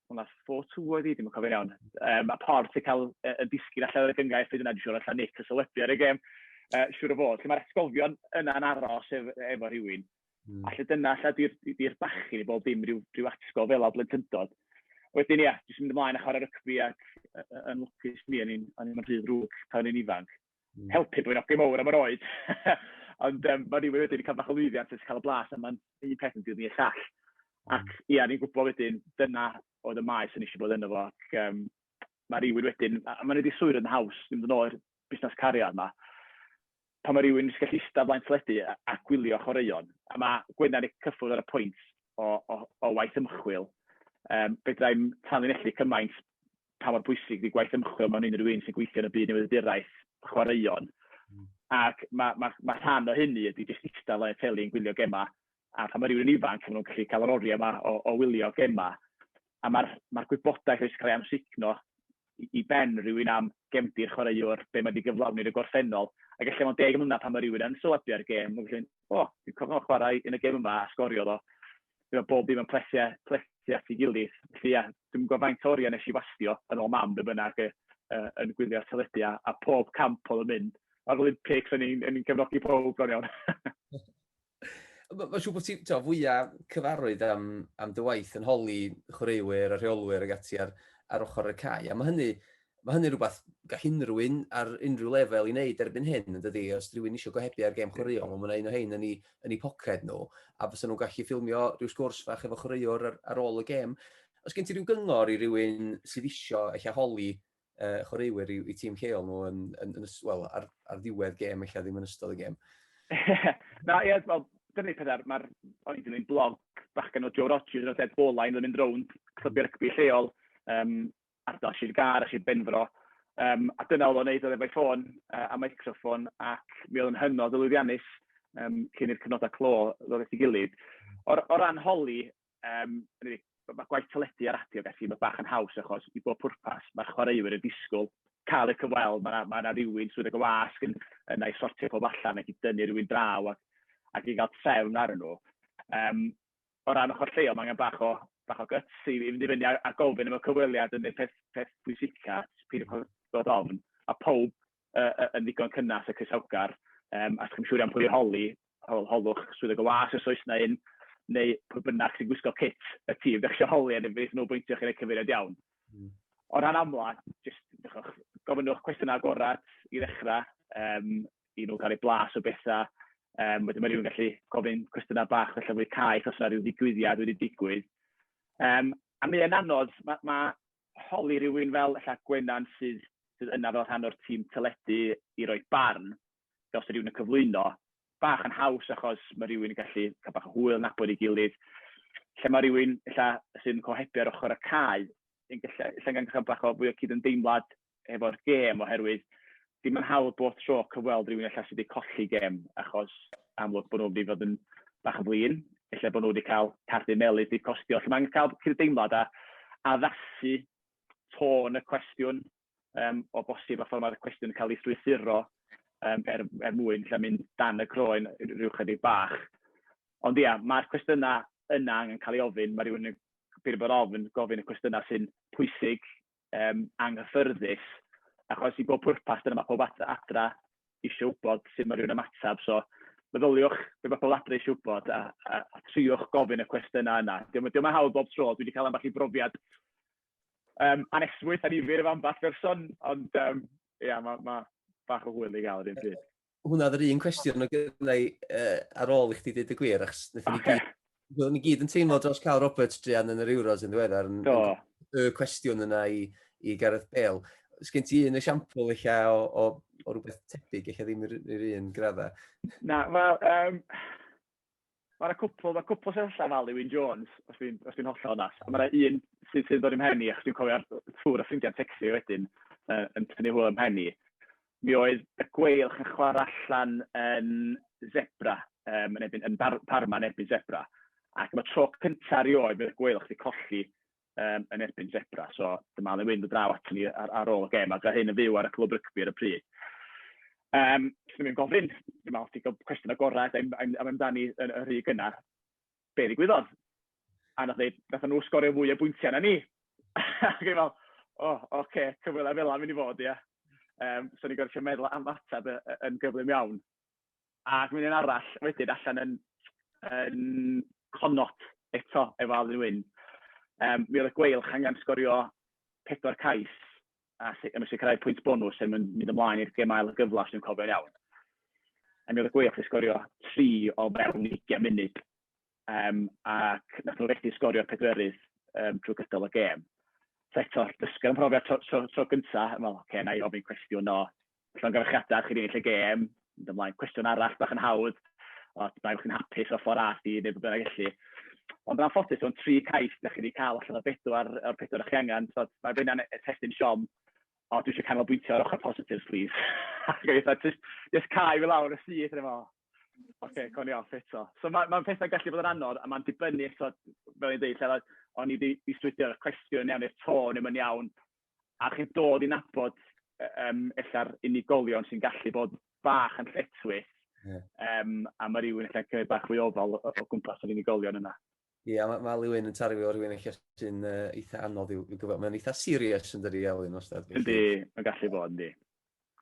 Speaker 5: Wel na, four two oedd hi, dwi'm yn cofio'n iawn. Yym a Port yn cael yy yn disgyn allan o'r gynghrair pryd yna, dwi'n siŵr ella Nick yn sylwebu ar y gêm, yy siŵr o fod. Felly mae'r atgofion yna'n aros ef- efo rhywun. A 'lly dyna ella 'di'r 'di'r bachyn i bob dim, ryw ryw atgof fel 'na o blentyndod. Wedyn ia, jyst mynd ymlaen a chwarae rygbi ac yy yn lwcus i mi o'n i'n o'n i'm yn rhy ddrwg pan o'n i'n ifanc. helpu bod yn ogyn mawr am yr oed. Ond um, mae rhywun wedyn yn cael bach o lwyddiant yn cael y blas, a mae'n un peth yn dilyn y llall. Mm. Ac ia, ni'n gwybod wedyn, dyna oedd y maes yn eisiau bod yno fo. Ac um, mae rhywun wedyn, a mae'n wedi swyd yn haws, ddim yn o'r busnes cariad yma, pan mae rhywun yn gallu eistedd blaen teledu a, a gwylio chwaraeon, a mae Gwenan ei cyffwrdd ar y pwynt o, o, o waith ymchwil, um, fedrai'n tanlinellu cymaint pa mor bwysig ydy gwaith ymchwil mewn unrhyw un sy'n gweithio yn y byd newyddiaduraeth chwaraeon. Ac mae, mae, mae rhan o hynny ydy jyst eistedd le teli yn gwylio gemau, a pan mae rhywun yn ifanc, maen nhw'n gallu cael yr oriau yma o, o wylio gemau. A mae'r mae gwybodaeth wedi cael ei amsugno i, i ben rhywun am gemdir chwaraewr, be mae wedi gyflawni yn y gorffennol. Ac efallai mewn deg mlynedd pan mae rhywun yn sylwebu ar gêm, mae'n gallu mynd, o, dwi'n cofio chwarae yn y gêm yma a sgorio ddo. Fi meddwl bob dim yn plesu plesu at ei gilydd. Felly ia, dwi'm yn gwybod faint o oriau wnes i wastio, yn ôl mam, be bynnag, yy yy yn gwylio'r teledu, a a pob camp oedd yn mynd. A'r Olympics, o'n i'n o'n i'n cefnogi pawb bron iawn.
Speaker 1: Ma' ma' siŵr bod ti, t'mo', fwya cyfarwydd am am dy waith yn holi chwaraewyr a rheolwyr ag ati ar ar ochr y cae, a ma' hynny Mae hynny'n rhywbeth gall unrhyw un ar unrhyw lefel ei wneud erbyn hyn, yn dydi? Os rhywun eisiau gohebu ar gêm chwaraeon, wel, mae 'na un o hein yn eu, yn eu poced nhw, a fysa nhw'n gallu ffilmio rhyw sgwrs fach efo chwaraewr ar, ar ôl y gêm. Os gen ti rhyw gyngor i rywun sydd isio ella holi uh, chwaraewyr i, i tîm lleol nhw yn, yn, yn, well, ar, ar ddiwedd gêm, ella ddim yn ystod y gêm? Na,
Speaker 5: ie, wel, dyna pethau, mae'r, o'n i ddim blog bachgen o Joe Rogers, oedd Ed Bola, yn mynd rownd clybiau rygbi lleol, um, Ac es i'r gar, es i'r benfro, yym, a dyna oedd o'n wneud, oedd efo'i ffôn a meicroffon, ac mi oedd o'n hynod o lwyddiannus, yym, cyn i'r cyfnodau clo ddod at ei gilydd. O o ran holi, yym, hynny yw, ma' ma' gwaith teledu a radio ac ati, ma' bach yn haws, achos i bob pwrpas, ma'r chwaraewyr yn disgwyl cael eu cyfweld, ma' 'na ma' 'na rywun trwy roi y wasg yn yn a'i sortio pawb allan, ac i dynnu rywun draw ac ac i gael trefn arnyn nhw. Yym. o ran ochr lleol, mae angen bach o bach o gyts i i fynd i fyny a a gofyn am y cyfweliad yn y peth peth pwysica, peidio bod bod ofn, a powb yy yy yn ddigon cynnes a croesawgar, yym a os chi'm siŵr iawn pwy i holi, hol- holwch swyddog y was os oes 'na un, neu pwy bynnag sy'n gwisgo cit y tîm dach chi isio holi, a mi wnaethon nhw bwyntio chi roi cyfeiriad iawn. O ran amla, jyst dach chibod, gofynnwch cwestiynau agored i ddechrau, yym i nhw cael eu blas o bethau. Um, wedyn mae rhywun gallu gofyn cwestiynau bach felly fwy caeth os yna rhyw ddigwyddiad wedi digwydd. Um, a mi yn anodd, mae ma holi rhywun fel ella Gwenan sydd, sydd yna fel rhan o'r tîm teledu i roi barn, fel sydd rhywun yn cyflwyno, bach yn haws achos mae rhywun yn gallu cael bach o hwyl, nabod ei gilydd. Lle mae rhywun ella, sy'n cohebu ar ochr y cae, yn gallu, lle gan gael bach o fwy o cyd-ymdeimlad hefo'r gêm, oherwydd ddim yn hawdd bob tro cyfweld rhywun ella sydd wedi colli gêm, achos amlwg bod nhw'n mynd i fod yn bach yn flin, ella bod nhw wedi cael cardyn melys wedi costio. Felly mae'n cael cyd-deimlad a addasu tôn y cwestiwn um, o bosib a ffordd mae'r cwestiwn yn cael ei strwythuro um, er, er mwyn lle mynd dan y croen rhyw chydig bach. Ond ia, mae'r cwestiynau yna angen cael ei ofyn, mae rhywun yn byr bod ofyn gofyn y cwestiynau sy'n pwysig yym, anghyffyrddus, achos i bob pwrpas, dyna ma' pawb at- adra isio wybod sut ma' rywun ymateb. So, meddyliwch be ma' pobl adra isio wybod, a a a triwch gofyn y cwestiynau yna. Dio'm yn dio'm yn hawdd bob tro, dwi 'di cael ambell i brofiad yym anesmwyth, annifyr efo ambell berson, ond yym, ia, ma' ma' bach o hwyl i gael yr un pryd. hwnna oedd yr un
Speaker 1: cwestiwn o gyda i uh, ar ôl i chdi dweud y gwir, achos nethon ni gyd, ni gyd yn teimlo dros cael Roberts Drian yn yr Euros yn ddiweddar, yn, y cwestiwn yna i, i Gareth Bale. Ys gen ti un esiampl eich o, o, o rhywbeth tebyg, eich ddim yr, yr un gradda? Na, wel,
Speaker 5: um, Ma' 'na cwpwl, ma' cwpwl sydd allan fel Ieuan Jones, os dwi'n os dwi'n hollol onest. A ma' 'na un sydd sydd yn dod i'm mhen i, achos dwi'n cofio ffwrdd â ffrindiau'n tecstu fi wedyn, yy, yn tynnu hwyl ym mhen i. Mi oedd y Gweilch yn chwarae allan yn Zebre, yym, yn erbyn yn Bar- Parma yn erbyn Zebre, ac am y tro cynta erioed, mi oedd y Gweilch 'di colli um, yn erbyn Zebra. So dyma le wynd y draw at ni ar, ar ôl y gem, a gyda hyn yn fyw ar y clwb rygbi ar y pryd. Um, Dwi'n mynd gofyn, dwi'n meddwl, ti'n gwybod cwestiwn agored am, am, am amdani yn y rhy gyna, be ddigwyddodd? A nath dweud, nath nhw sgorio fwy o bwyntiau na ni. Ac i'n meddwl, o, oh, oce, okay, cyfwylau fel am mynd i fod, ia. Um, so ni'n gorfod meddwl am ateb yn gyflym iawn. Ac mae'n un arall wedyn allan yn yn Connaught eto efo Alun Wyn. Yym, mi oedd y Gweilch angen sgorio pedwar cais a si- a sicrhau pwynt bonws er mwyn mynd ymlaen i'r gêm ail yn gyflawn, os dwi'n cofio'n iawn. A mi oedd y Gweilch 'di sgorio tri o fewn ugain munud, yym ac wnaethon nhw fethu sgorio'r pedwerydd yym drwy gydol y gêm. So eto, dysgu am y profiad tro tro tro gynta, a meddwl, ocê, wna i ofyn cwestiwn o llongyfarchiadau chi 'di ennill y gêm, mynd ymlaen, cwestiwn arall bach yn hawdd, ond mae chi'n hapus o ffordd as i wneud beth bynnag felly. Ond yn anffodus, o'n tri cais da chi wedi cael allan o bedwar o'r pedwar o'ch chi angen, so mae fe yna'n testyn siom, o, dwi eisiau canolbwyntio ar ochr positives, please. Ac o'n just, just cael fi lawr y syth, yn efo, oce, coni off eto. So mae ma pethau gallu bod yn anodd, a mae'n dibynnu eto, fel i'n dweud, lle o'n i wedi swydio'r cwestiwn yn iawn, neu'r tôn ddim yn iawn, A chi'n dod i nabod, yym, ella'r unigolion sy'n gallu bod bach yn lletchwith. Ie. Yym, a ma' rywun ella'n cymryd bach fwy o ofal o o gwmpas yr unigolion yna. Ie, a ma' ma' Alun
Speaker 1: yn tarfu fel rhywun ella sy'n yy eitha anodd i'w i'w gyfo- mae'n eitha serious yndydi Alun wastad felly? Yndi, mae'n gallu bod,
Speaker 5: yndi.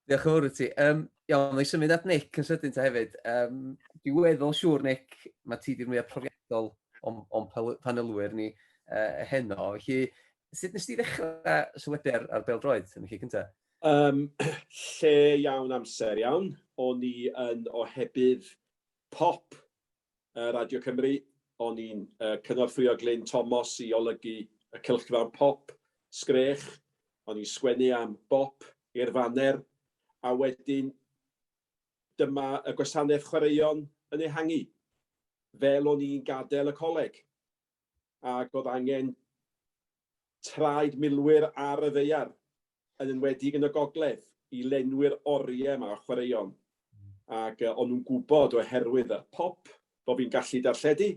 Speaker 5: Diolch yn fawr
Speaker 1: i ti. Um, iawn, mae symud at Nick yn sydyn ta hefyd. Um, dwi'n weddol siŵr, Nick, mae ti di'r mwyaf profiadol o'n, on panelwyr ni uh, heno. Felly, sut nes ti ddechrau sylwebu ar, ar bel droed yn y chi cyntaf? Um,
Speaker 3: lle iawn amser iawn. O'n i yn ohebydd pop Radio Cymru, o'n i'n cynorthwyo Glyn Tomos i olygu y cylchgrawn pop, Sgrech, o'n i'n sgwennu am bop i'r faner, a wedyn dyma y gwasanaeth chwaraeon yn ehangu. Fel o'n i'n gadael y coleg, ac oedd angen traed milwyr ar y ddaear, yn enwedig yn y gogledd, i lenwi'r oriau yma o chwaraeon. Ac o'n nhw'n gwybod oherwydd y pop, bod fi'n gallu darlledu,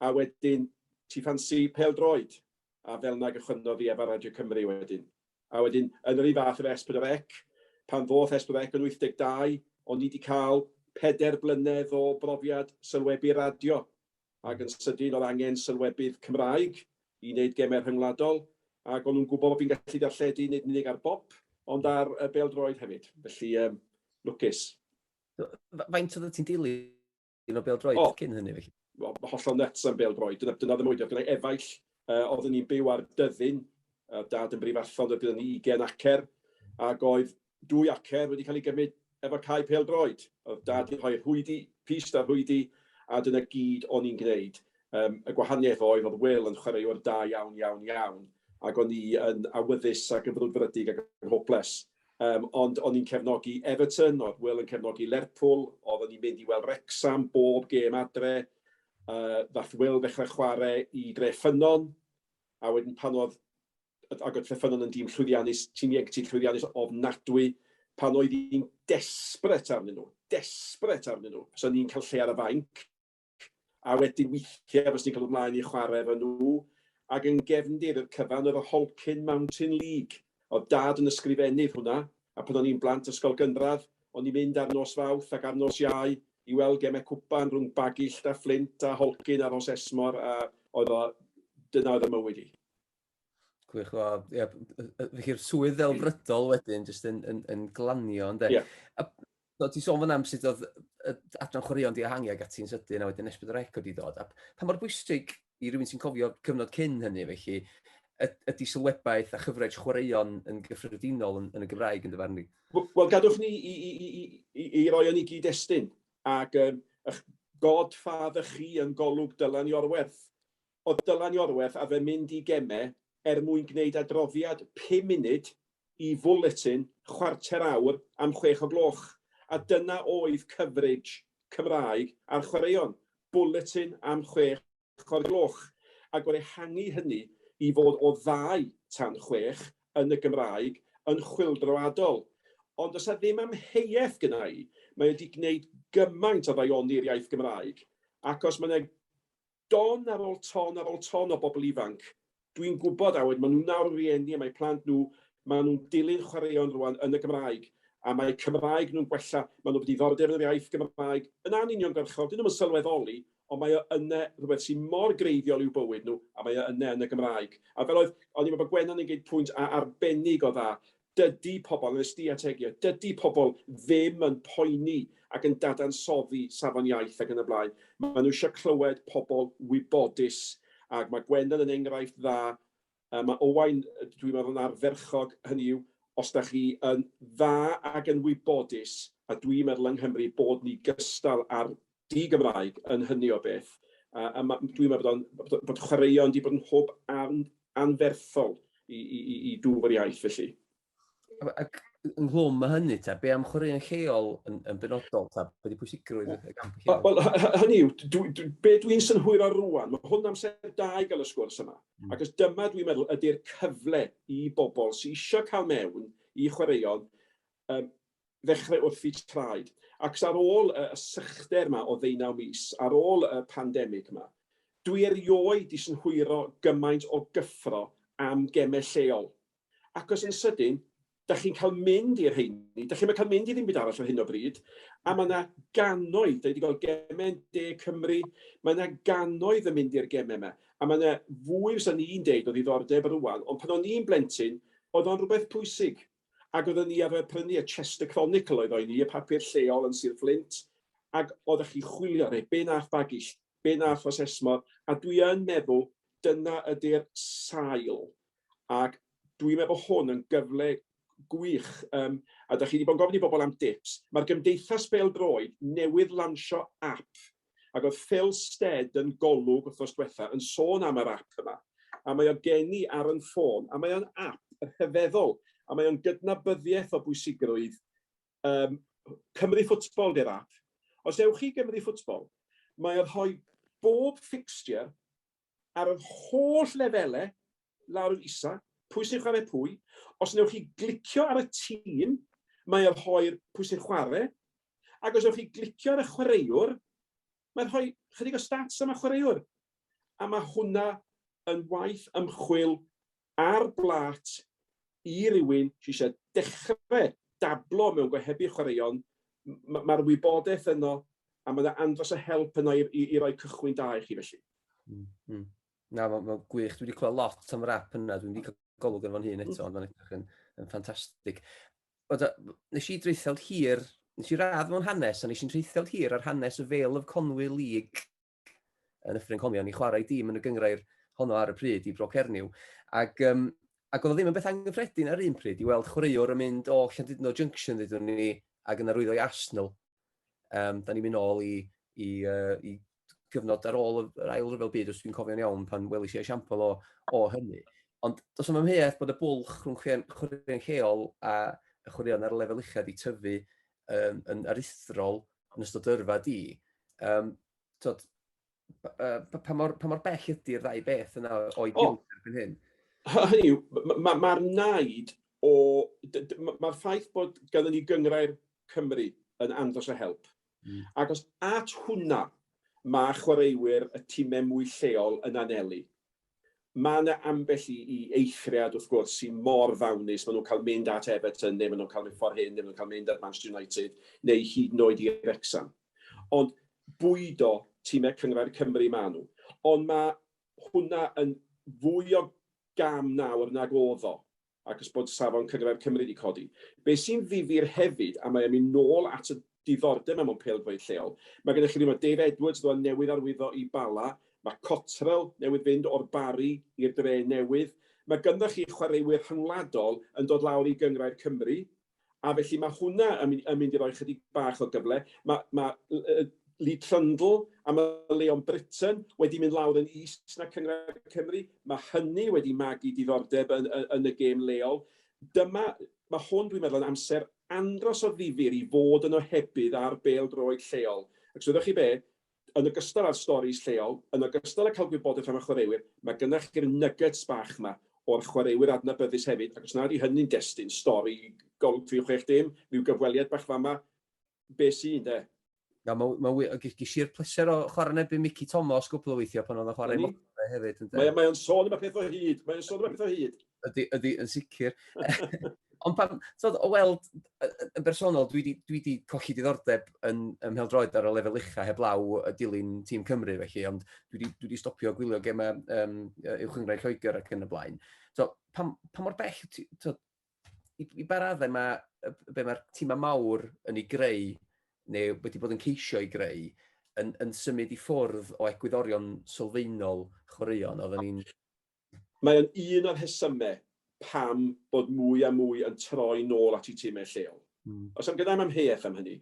Speaker 3: a wedyn ti ffansi pêl-droed, a fel yna gychwynnodd i efa Radio Cymru wedyn. A wedyn, yn yr un fath efo S4C, pan ddoth S4C yn 82, o'n i wedi cael pedair blynedd o brofiad sylwebu radio, ac yn sydyn oedd angen sylwebydd Cymraeg i wneud gemau rhyngwladol, ac o'n nhw'n gwybod bod fi'n gallu darlledu nid yn unig ar bop, ond ar bêl-droed hefyd, felly yym lwcus.
Speaker 1: Faint oeddet ti'n dilyn o bêl-droed cyn hynny felly? O, hollol nyts am
Speaker 3: bêl-droed, dyna oedd y mwynder. Gyda'i efaill, oeddwn i'n byw ar Dyddyn, oedd Dad yn Brifarthod, oedd gyda ni ugain acer, ac oedd dwy acer wedi cael ei gymryd efo cae pêl-droed. Oedd Dad 'di rhoi'r hwydi, pist a'r hwydi, a dyna gyd o'n i'n gwneud. Yym, y gwahaniaeth oedd, oedd Wil yn chwaraewr da iawn, iawn, iawn, ac o'n i yn awyddus ac yn frwdfrydig ac yn hoples. Yym, ond o'n i'n cefnogi Everton, oedd Wil yn cefnogi Lerpwl, oeddwn i'n mynd i weld Wrecsam bob gêm adre. Yy, ddaeth Wil ddechrau chwarae i Dre Ffynnon, a wedyn pan oedd ac oedd Trefynnon yn dîm llwyddiannus, tîm ieuenctid llwyddiannus ofnadwy, pan oedd hi'n desperate arnyn nhw, desperate arnyn nhw, fysa ni'n cael lle ar y fainc, a wedyn weithiau fysa ni'n cael ymlaen i chwarae efo nhw, ac yn gefndir i'r cyfan oedd y Holcyn Mountain League, oedd Dad yn ysgrifennydd hwnna, a pan o'n i'n blant ysgol gynradd, o'n i'n mynd ar nos Fawrth ac ar nos Iau i weld gemau cwpan rhwng Bagillt a Fflint a Holcyn a Rhosesmor, a oedd o, dyna oedd fy mywyd i.
Speaker 1: Gwych, wel, ie, felly'r swydd ddelfrydol wedyn, jyst yn, yn, yn glanio, ynddo. Ie. A, so, ti sôn fan am sut oedd adran chwaraeon di ehangu ag ati'n sydyn, a wedyn esbyd o'r eco di ddod. A pa mor bwysig i rywun sy'n cofio cyfnod cyn hynny, felly, ydy sylwebaeth a chyfraith chwaraeon yn gyffredinol yn, yn y Gymraeg yn dyfarnu? Wel, gadwch ni
Speaker 3: i, i, i, i, i, i roi o'n i gyd-destun, ac um, eich god ffa fy chi yn golwg dylan i orwerth. oedd Dylan Iorwerth a fe mynd i gemau er mwyn gwneud adroddiad pum munud i Fwletin chwarter awr am chwech o gloch, a dyna oedd coverage Cymraeg ar chwaraeon, bwletin am chwech o'r gloch, ac oedd ehangu hynny i fod o ddau tan chwech yn y Gymraeg yn chwyldroadol. Ond does 'na ddim amheuaeth gynna i, mae o 'di gwneud gymaint o ddaioni'r iaith Gymraeg, ac os mae 'na Don ar ôl ton ar ôl ton o bobl ifanc. Dwi'n gwybod, a wedyn maen nhw nawr yn rieni a mae plant nhw, maen nhw'n dilyn chwaraeon rŵan yn y Gymraeg, a mae eu Cymraeg nhw'n gwella, maen nhw efo diddordeb yn yr iaith Gymraeg, yn anuniongyrchol, 'dyn nhw ddim yn sylweddoli, ond mae o yna, rhywbeth sy'n mor greiddiol i'w bywyd nhw, a mae o yna yn y Gymraeg. A fel oedd, o'n i'n meddwl bod Gwennan yn gwneud pwynt arbennig o dda, Dydy pobl, yn y stiategiau, dydy pobl ddim yn poeni ac yn dadansoddi safon iaith ac yn y blaen. Maen nhw eisiau clywed pobl wybodus, ac mae Gwennan yn enghraifft dda. Yy, mae Owain, dwi'n meddwl, yn ardderchog, hynny yw, os da chi yn dda ac yn wybodus, a dwi'n meddwl yng Nghymru bod ni gystal â'r di-Gymraeg yn hynny o beth, a a ma' dwi'n meddwl bod o'n bod o bod chwaraeon 'di bod yn hwb an- anferthol i i i i dwf yr iaith felly. A a g-
Speaker 1: ynghlwm â hynny ta, be' am chwaraeon lleol yn yn benodol ta, be' 'di pwysigrwydd y y gamp lleol? Wel wel hy- hy- hynny yw,
Speaker 3: dwi dwi be' dwi'n synhwyro rŵan, ma' hwn amser da i ga'l y sgwrs yma, achos dyma dwi'n meddwl ydi'r cyfle i bobl sy isio ca'l mewn i chwaraeon yym ddechrau wrthi traed. Ac ar ôl y sychder yma o ddeunaw mis, ar ôl y pandemig yma, dwi erioed di synhwyro gymaint o gyffro am gemau lleol. Ac os yn sydyn, da chi'n cael mynd i'r rheini, da chi'm yn cael mynd i ddim byd arall ar hyn o bryd, a mae yna gannoedd, da ni wedi gweld gemau yn De Cymru, mae yna gannoedd yn mynd i'r gemau yma, a mae yna fwy fysa ni'n deud o ddiddordeb rwan, ond pan o'n i'n blentyn, oedd o'n rhywbeth pwysig. ac oeddwn ni arfer prynu y Chester Chronicle oedd o i ni, y papur lleol yn Sir Fflint, ac oeddech chi'n chwilio, neu be nath Bagill, be nath Rhos Esmor, a dwi yn meddwl dyna ydy'r sail, ac dwi'n meddwl bod hwn yn gyfle gwych, um, a da chi wedi bod yn gofyn i bobl am dips, mae'r gymdeithas bêl-droed newydd lansio app Ac oedd Phil Stead yn Golwg wthnos dwetha yn sôn am yr ap yma, a mae o gen i ar yn ffôn, a mae o'n ap rhyfeddol, a mae o'n gydnabyddiaeth o bwysigrwydd yym Cymru Football 'di'r ap. Os ewch chi i Gymru Football, mae o'n rhoi bob fixture ar yr holl lefele lawr yn isa, pwy sy'n chwarae pwy. Os newch chi glicio ar y tîm, mae o'n rhoi'r pwy sy'n chwarae, ac os newch chi glicio ar y chwaraewr, mae'n rhoi chydig o stats am y chwaraewr. A mae hwnna yn waith ymchwil ar blât i rywun sydd eisiau dechrau dablo mewn gohebu chwaraeon, mae'r wybodaeth yno a mae yna andros o help yno i, i, i roi cychwyn da i chi felly. Mm, mm. Na, mae'n ma
Speaker 1: gwych. Dwi wedi clywed lot am yr app yna. Dwi'n wedi cael golwg yn fo'n hun eto, ond mae'n edrych yn, yn ffantastig. Nes i dreithiol hir, nes i radd mewn hanes, a nes i'n treithiol hir ar hanes y Vale of Conwy League yn Nyffryn Conwy, o'n i'n chwarae i dîm yn y gyngrair honno ar y pryd i Bro Cernyw. Ac, um, ac oedd o ddim yn beth anghyffredin ar un pryd i weld chwaraewr yn mynd o Llandudno Junction, ddydw ni, ac yn arwyddo i Arsenal. Um, da ni'n mynd ôl i, i, uh, i gyfnod ar ôl yr ail rhyfel byd, os dwi'n cofio'n iawn, pan welis i esiampl o, o hynny. Ond does yma mheth bod y bwlch rhwng chwaraeon lleol a chwaraeon ar y lefel uchaf i tyfu yn, yn aruthrol yn ystod yrfa di, um, tod, uh, pa, mor, pa mor bell ydy'r ddau beth yna o'i gilydd oh. erbyn hyn? Hynny yw,
Speaker 3: mae'r ma, ma naid o... Mae'r ffaith bod ganddyn ni gyngrair Cymru yn andros o help. Mm. Ac os at hwnna mae chwaraewyr y tîmau mwy lleol yn anelu, Mae 'na ambell i i eithriad wrth gwrs sy mor ddawnus, maen nhw'n cael mynd at Everton neu maen nhw'n cael mynd ffordd hyn neu maen nhw'n cael mynd at Manchester United neu hyd yn oed i Wrecsam. Ond bwydo timau Cynghrair Cymru maen nhw. Ond mae hwnna yn fwy o gam nawr nag oedd o. achos bod safon Cyngred Cymru wedi codi. Be sy'n ddifyr hefyd, a mae e'n mynd nôl at y diddordeb 'na mewn pêl-droed lleol, mae gennych chi rywun fel Dave Edwards, ddoe newydd arwyddo i Bala, mae Cottrell newydd fynd o'r Barri i'r Dre newydd, mae ganddoch chi chwaraewyr rhyngwladol yn dod lawr i Gyngrair Cymru, A felly mae hwnna yn mynd, yn mynd i roi chydig bach o gyfle. Mae, mae uh, Lee Trundle am y Leon Britain wedi mynd lawr yn is na Cyngor Cymru. Mae hynny wedi magu diddordeb yn, yn, yn y gêm leol. Dyma, mae hwn dwi'n meddwl yn amser andros o ddifyr i fod yn ohebydd ar bêl droed lleol. Ac so ydych chi be, yn ogystal â'r storis lleol, yn ogystal â cael gwybodaeth am y chwaraewyr, mae gyda chi'r nuggets bach 'ma o'r chwaraewyr adnabyddus hefyd, ac os nad yw hynny'n destun stori golwg fi chwech dim, ryw gyfweliad bach fama, be sy, ynde? Na, mae'n ma wych,
Speaker 1: ac ges i'r pleser o chwarae yn erbyn Mickey Thomas gwbl o weithiau pan oedd o'n chwarae i Motorway hefyd, ynde? Mae o'n sôn am y peth
Speaker 3: o hyd, mae o'n sôn am y peth o hyd. Ydy, ydy, yn
Speaker 1: sicr. Ond pan, tod, o weld, yn bersonol, dwi wedi dwi di colli diddordeb yn, yn mheldroed ar y lefel ucha heb law y dilyn tîm Cymru, felly, ond dwi wedi dwi di stopio gwylio gemau um, yw chyngrau Lloegr ac yn y blaen. So, pa, pa mor bell, tod, i, i ba raddau mae, be mae'r tîmau mawr yn ei greu, neu wedi bod yn ceisio ei greu, yn, yn symud i ffwrdd o egwyddorion sylfaenol chwaraeon, oedden ni'n
Speaker 3: Mae o'n un o'r rhesymau pam bod mwy a mwy yn troi nôl at eu timau lleol. Oes am genai'm amheuaeth am hynny,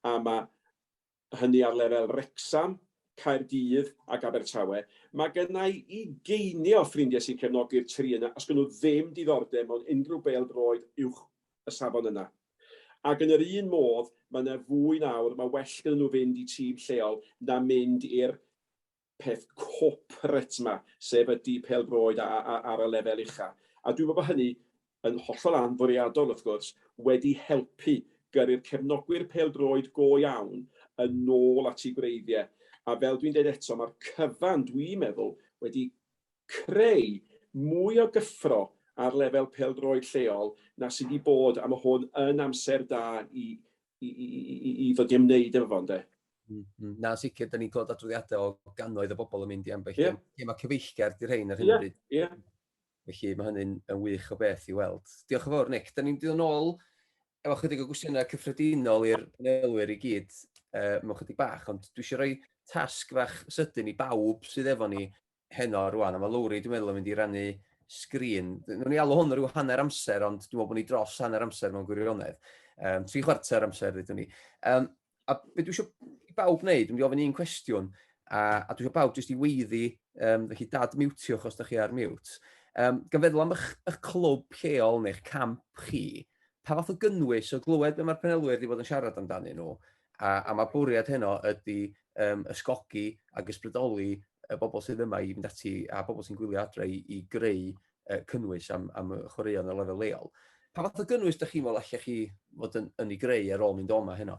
Speaker 3: a mae hynny ar lefel Wrecsam, Caerdydd ac Abertawe. Mae genai ugeiniau o ffrindiau sy'n cefnogi'r tri yna os gan nhw ddim diddordeb mewn unrhyw bêl-droed uwch y safon yna. Ac yn yr un modd, mae 'na fwy nawr, mae well gyda nhw fynd i tîm lleol na mynd i'r peth corporate 'ma, sef y di-pêl-droed a- a- a- ar y lefel ucha'. A dwi'n meddwl bod hynny, yn hollol anfwriadol wrth gwrs, wedi helpu gyrru'r cefnogwyr pêl-droed go iawn yn ôl at eu gwreiddiau. A fel dwi'n deud eto, mae'r cyfan, dwi'n meddwl, wedi creu mwy o gyffro ar lefel pêl-droed lleol na sy' 'di bod, a ma' hwn yn amser da i i, i, i, i ddod i ymwneud efo fo, ynddo. Mm, mm. Na,
Speaker 1: sicr, da ni'n clywed adroddiadau o gannoedd o bobl yn mynd i ambell yeah. lle mae cyfeillgar di'r rhain ar hyn o bryd. Yeah, yeah. Felly mae hynny'n yn wych o beth i weld. Diolch yn fawr, Nick. Da ni'n dod yn ôl efo chydig o gwestiynau cyffredinol i'r panelwyr i gyd uh, mewn chydig bach, ond dwi eisiau rhoi tasg fach sydyn i bawb sydd efo ni heno rwan, a mae Lowri dwi'n meddwl yn mynd i rannu sgrin. Nw'n ni alw hwn rhyw hanner amser, ond dwi'n meddwl bod ni dros hanner amser mewn gwirionedd. Um, tri chwarter amser, ddydyn ni. Um, a beth dwi eisiau i bawb wneud, dwi'n mynd i ofyn un cwestiwn, a, a dwi eisiau bawb jyst i weiddi, um, felly dad miwtiwch os da chi ar miwt. Um, gan feddwl am eich, eich clwb lleol neu'ch camp chi, pa fath o gynnwys o glywed be mae'r penelwyr wedi bod yn siarad amdanyn nhw, a, a mae bwriad heno ydy um, ysgogi ac ysbrydoli y bobl sydd yma i fynd ati a bobl sy'n gwylio adre i, i greu uh, cynnwys am, am y chwaraeon y lefel leol. Pa fath o gynnwys ydych chi'n meddwl allech chi fod yn, yn ei greu ar ôl mynd o'ma heno?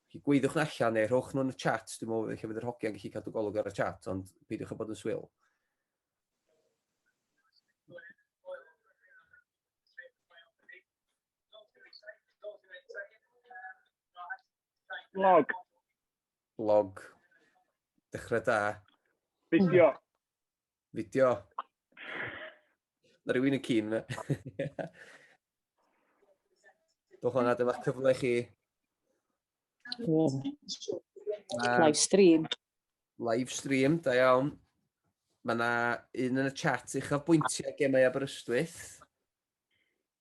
Speaker 1: Chi gweiddiwch na allan neu rhowch nhw'n y chat, dwi'n meddwl eich bydd yr hogiau'n gallu cadw golwg ar y chat, ond peidiwch â bod yn swyl.
Speaker 5: Log. Log.
Speaker 1: Dechrau da. Fideo. Fideo. Mae rhywun yn cyn fe. Dwch hwnna, dyma cyfle chi.
Speaker 7: Live stream. Live
Speaker 1: stream, da iawn. Mae yna un yn y chat uchafbwyntiau gemau Aberystwyth.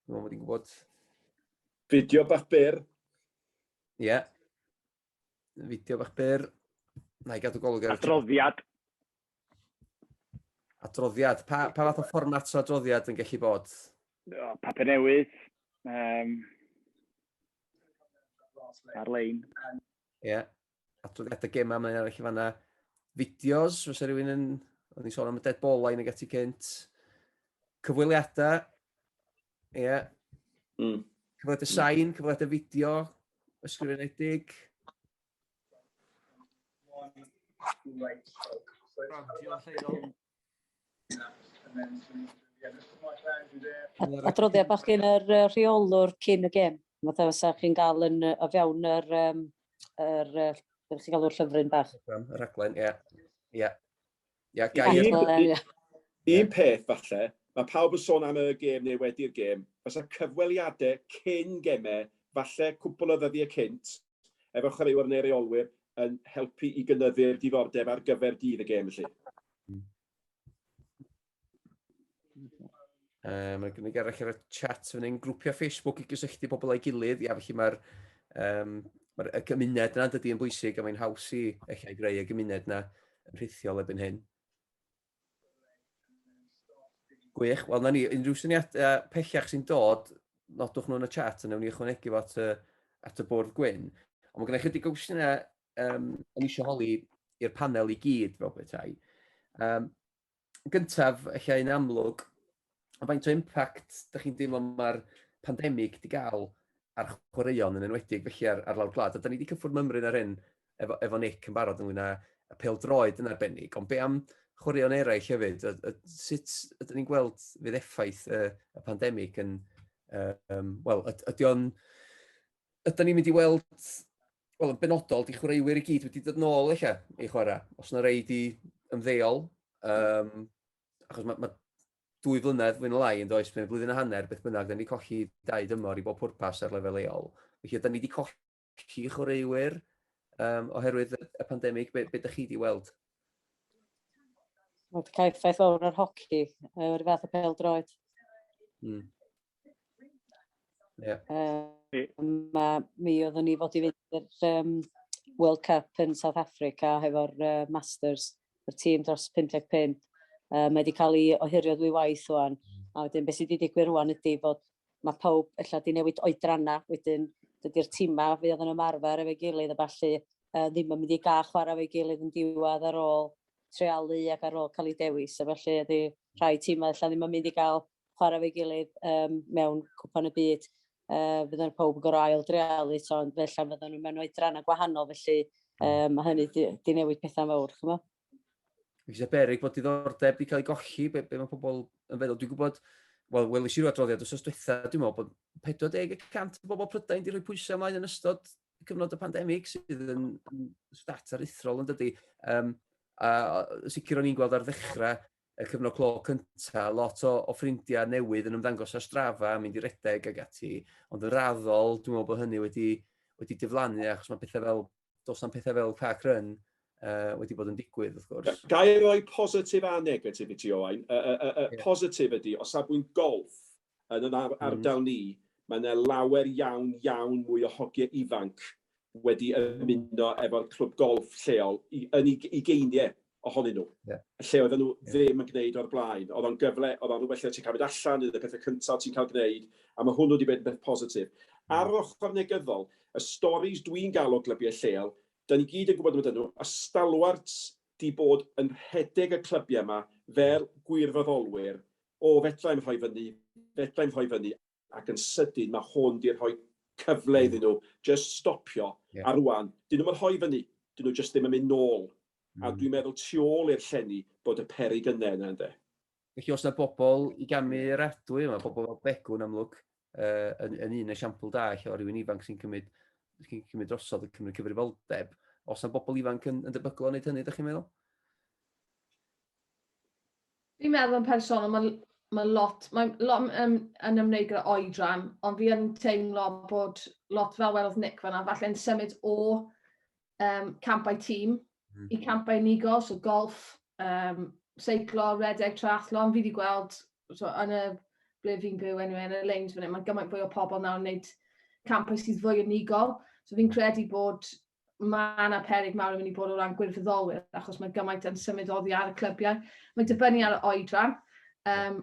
Speaker 1: Dwi'n meddwl bod i'n gwybod. Fideo
Speaker 3: bach byr. Ie.
Speaker 1: Yeah. Fideo bach byr. Na i gadw golwg ar... Adroddiad. Adroddiad. Pa, pa fath o fformat o adroddiad yn gallu bod? O, papur
Speaker 5: newydd. Um, ar-lein. Ie. Yeah.
Speaker 1: adroddiadau gemau mae'n arall i fanna. Fideos, os rhywun yn... O'n i'n sôn am y dead ball line ag ati cynt. Cyfweliadau. Ie. Yeah. Mm. Cyfweliadau sain, cyfweliadau fideo, ysgrifenedig. Radio lleol.
Speaker 7: Adroddiad bach gen yr uh, rheolwr cyn y gêm. Fatha fysa chi'n gael yn uh, o fewn yr, um, yr, uh, beth chi'n galw'r llyfryn bach. Rhaglen, rhaglen, ie. Ie. Ie,
Speaker 1: gair. Un,
Speaker 3: un, un peth falle, mae pawb yn sôn am y gêm neu wedi'r gêm, fysa cyfweliadau cyn gemau, falle cwpl o ddyddiau cynt, efo chwaraewyr neu reolwyr yn helpu i gynyddu'r diddordeb ar gyfer dydd y gêm felly. Um,
Speaker 1: mae gen i garach ar y chat fan hyn, grwpiau Facebook i gysylltu pobl â'i gilydd, ia, felly mae'r um, mae y gymuned yna dydy yn bwysig a mae'n haws i eich ei greu y gymuned yna yn rhithiol ebyn hyn. Gwych. Wel, na ni, unrhyw syniadau pellach sy'n dod, nodwch nhw yn y chat, a newn ni ychwanegu fo at y, at y bwrdd gwyn. Ond mae gen i chydig o gwestiynau um, yn eisiau holi i'r panel i gyd fel bethau. Um, gyntaf, allai yn amlwg, a faint o impact dych chi'n deimlo mae'r pandemig wedi cael ar chwaraeon yn enwedig felly ar, ar lawr gwlad. A da ni wedi cyffwrdd mymryn ar hyn efo, efo Nick yn barod ynglyn â y pel droed yn arbennig, ond be am chwaraeon eraill hefyd? A, a, sut ydyn ni'n gweld fydd effaith y, y pandemig yn... Um, Wel, ydy o'n... Ydyn ni'n mynd i weld... Wel, yn benodol, di chwaraewyr i gyd wedi dod nôl eich i chwarae. Os yna rei di ymddeol, um, achos mae, mae dwy flynedd fwy na lai yn does, mae'n flwyddyn a hanner, beth bynnag, da ni wedi colli dau dymor i bob pwrpas ar lefel leol. Felly, da ni wedi colli chwaraewyr um, oherwydd y pandemig, beth be ydych chi wedi weld?
Speaker 7: Mae wedi cael effaith fawr ar hoci, o'r fath o pel droed. Hmm. Yeah. Um, a mi oeddwn ni fod i fynd i'r um, World Cup yn South Africa hefo'r uh, Masters, y tîm dros 55. Uh, mae wedi cael ei ohirio ddwy waith o'n. A wedyn beth sydd wedi digwydd rwan ydy bod mae pawb efallai wedi newid oedranna, wedyn dydy'r tîma fe oedd yn ymarfer efo'i gilydd a falle uh, ddim yn mynd i gael chwarae efo'i gilydd yn diwedd ar ôl trealu ac ar ôl cael ei dewis. A felly ydy rhai tîmau efallai ddim yn mynd i gael chwarae fe gilydd um, mewn cwpan y byd. Uh, fydden pawb yn gorau ail drealu, so, ond felly fydden nhw mewn oedran a gwahanol, felly um, mae hynny di, di newid pethau mawr, chymo? Fi eisiau
Speaker 1: berig bod diddordeb wedi cael ei golli, be, be mae pobl yn feddwl. Dwi'n gwybod, wel, welis i'r adroddiad os diwetha, dwi'n meddwl bod 40% o bobl Prydain wedi rhoi pwysau ymlaen yn ystod cyfnod y pandemig sydd yn, yn stat aruthrol yn dydy. Um, a sicr o'n i'n gweld ar ddechrau y cyfnod clo cynta, lot o o ffrindiau newydd yn ymddangos ar Strava, mynd i redeg ac ati, ond yn raddol, dwi'n meddwl bod hynny wedi wedi diflannu achos mae pethau fel, does na'm pethau fel park run uh, wedi bod yn digwydd, wrth gwrs. Ga i roi positif
Speaker 3: a negatif i ti, Owain? Y, y, y, y yeah. positif ydy, o safbwynt golf, Yn yn ardal ni, mae 'na lawer iawn, iawn mwy o hogie ifanc wedi ymuno efo'r clwb golff lleol, i yn ug- ugeinie ohonyn nhw. Ie. Lle oedden nhw ddim yn gneud o'r blaen. Oedd o'n gyfle, oedd o'n rywbeth lle ti'n cael mynd allan, un o'r pethe cynta o' ti'n cael gneud, a ma' hwnnw 'di bod yn beth positif. Ar yr ochr negyddol, y storis dwi'n ga'l o glybiau lleol, 'dan ni gyd yn gwbod amdanyn nhw, y stalwarts 'di bod yn rhedeg y clybiau 'ma fel gwirfoddolwyr O, fedra i'm rhoi fyny, fedra i'm rhoi fyny, ac yn sydyn mae hwn 'di rhoi cyfle iddyn nhw jyst stopio, a rŵan, 'dyn nhw'm yn rhoi fyny, 'dyn nhw jyst ddim yn mynd nôl, a dwi'n meddwl tu ôl i'r llenni bod y peryg yne yna ynde. Felly os 'na
Speaker 1: bobl i gamu yr adwy yma, pobl fel Begw yn amlwg, uh, yn, yn un esiampl da lle o rywun ifanc sy'n cymryd, sy cymryd drosodd, yn cymryd cyfrifoldeb. Os yna bobl ifanc yn, yn debygol o wneud hynny, ydych chi'n meddwl?
Speaker 4: Fi'n meddwl yn personol, mae ma lot, mae lot yn, yn ymwneud gyda oedran, ond fi yn teimlo bod lot fel welodd Nick fanna, falle'n symud o um, campau tîm mm. i campau unigol, so golf, um, seiclo, redeg, triathlon, fi wedi gweld so, yn y ble fi'n byw enw yn y leins fan hyn, mae gymaint fwy o pobl nawr yn gwneud campau sydd fwy unigol. So fi'n credu bod mae yna perig mawr yn mynd i bod o ran gwirfoddolwyr, achos mae gymaint yn symud oddi ar y clybiau. Mae'n dibynnu ar y oedran. Um,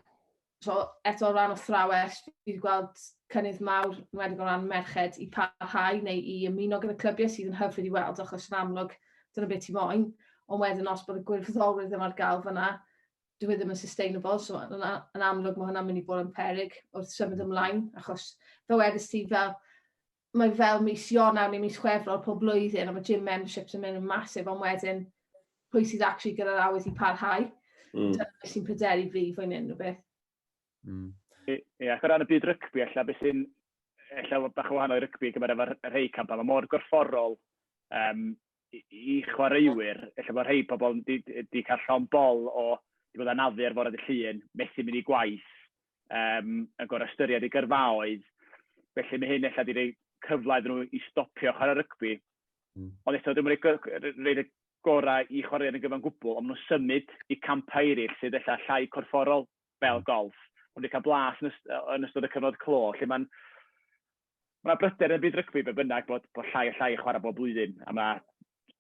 Speaker 4: so eto o ran athrawes fi wedi gweld cynnydd mawr yn wedi o ran merched i parhau neu i ymuno gyda clybiau sydd yn hyfryd i weld achos yn amlwg dyna beth ti moyn ond wedyn os bod y gwirfoddolwyr ddim ar gael fyna dyw e ddim yn sustainable so yn, yn amlwg mae hwnna'n mynd i bod yn peryg wrth symud ymlaen achos fe wedys ti fel mae fel mis Ionawr neu mis Chwefror pob blwyddyn a mae gym memberships yn mynd yn masif ond wedyn pwy sydd actually gyda'r awydd i parhau. Mm. Dyna beth sy'n pryderu fi fwy neu unrhyw beth.
Speaker 5: Mm. Ie, yeah, ac o ran y byd rygbi, ella beth sy'n ella bach o wahanol i rygbi gyfer efo'r rhai campau, mae mor gorfforol um, i, i chwaraewyr, efallai bod rhai pobl wedi cael llon bol o, wedi bod anafu ar fore dy llun, methu mynd i gwaith, um, yn gorau ystyried ei gyrfaoedd, felly mae hyn efallai wedi rhoi cyfle iddyn nhw i stopio chwarae rygbi. Mm. Ond eto, dwi'n rhaid y gorau i chwaraewyr yn gyfan gwbl, ond maen nhw'n symud i campau eraill sydd efallai llai corfforol fel mm. golf. Ond wedi cael blas yn, yst yn ystod y cyfnod clo, lle mae'n ma' 'na bryder yn byd rygbi be' bynnag bod bod llai a llai yn chwarae bob blwyddyn, a ma'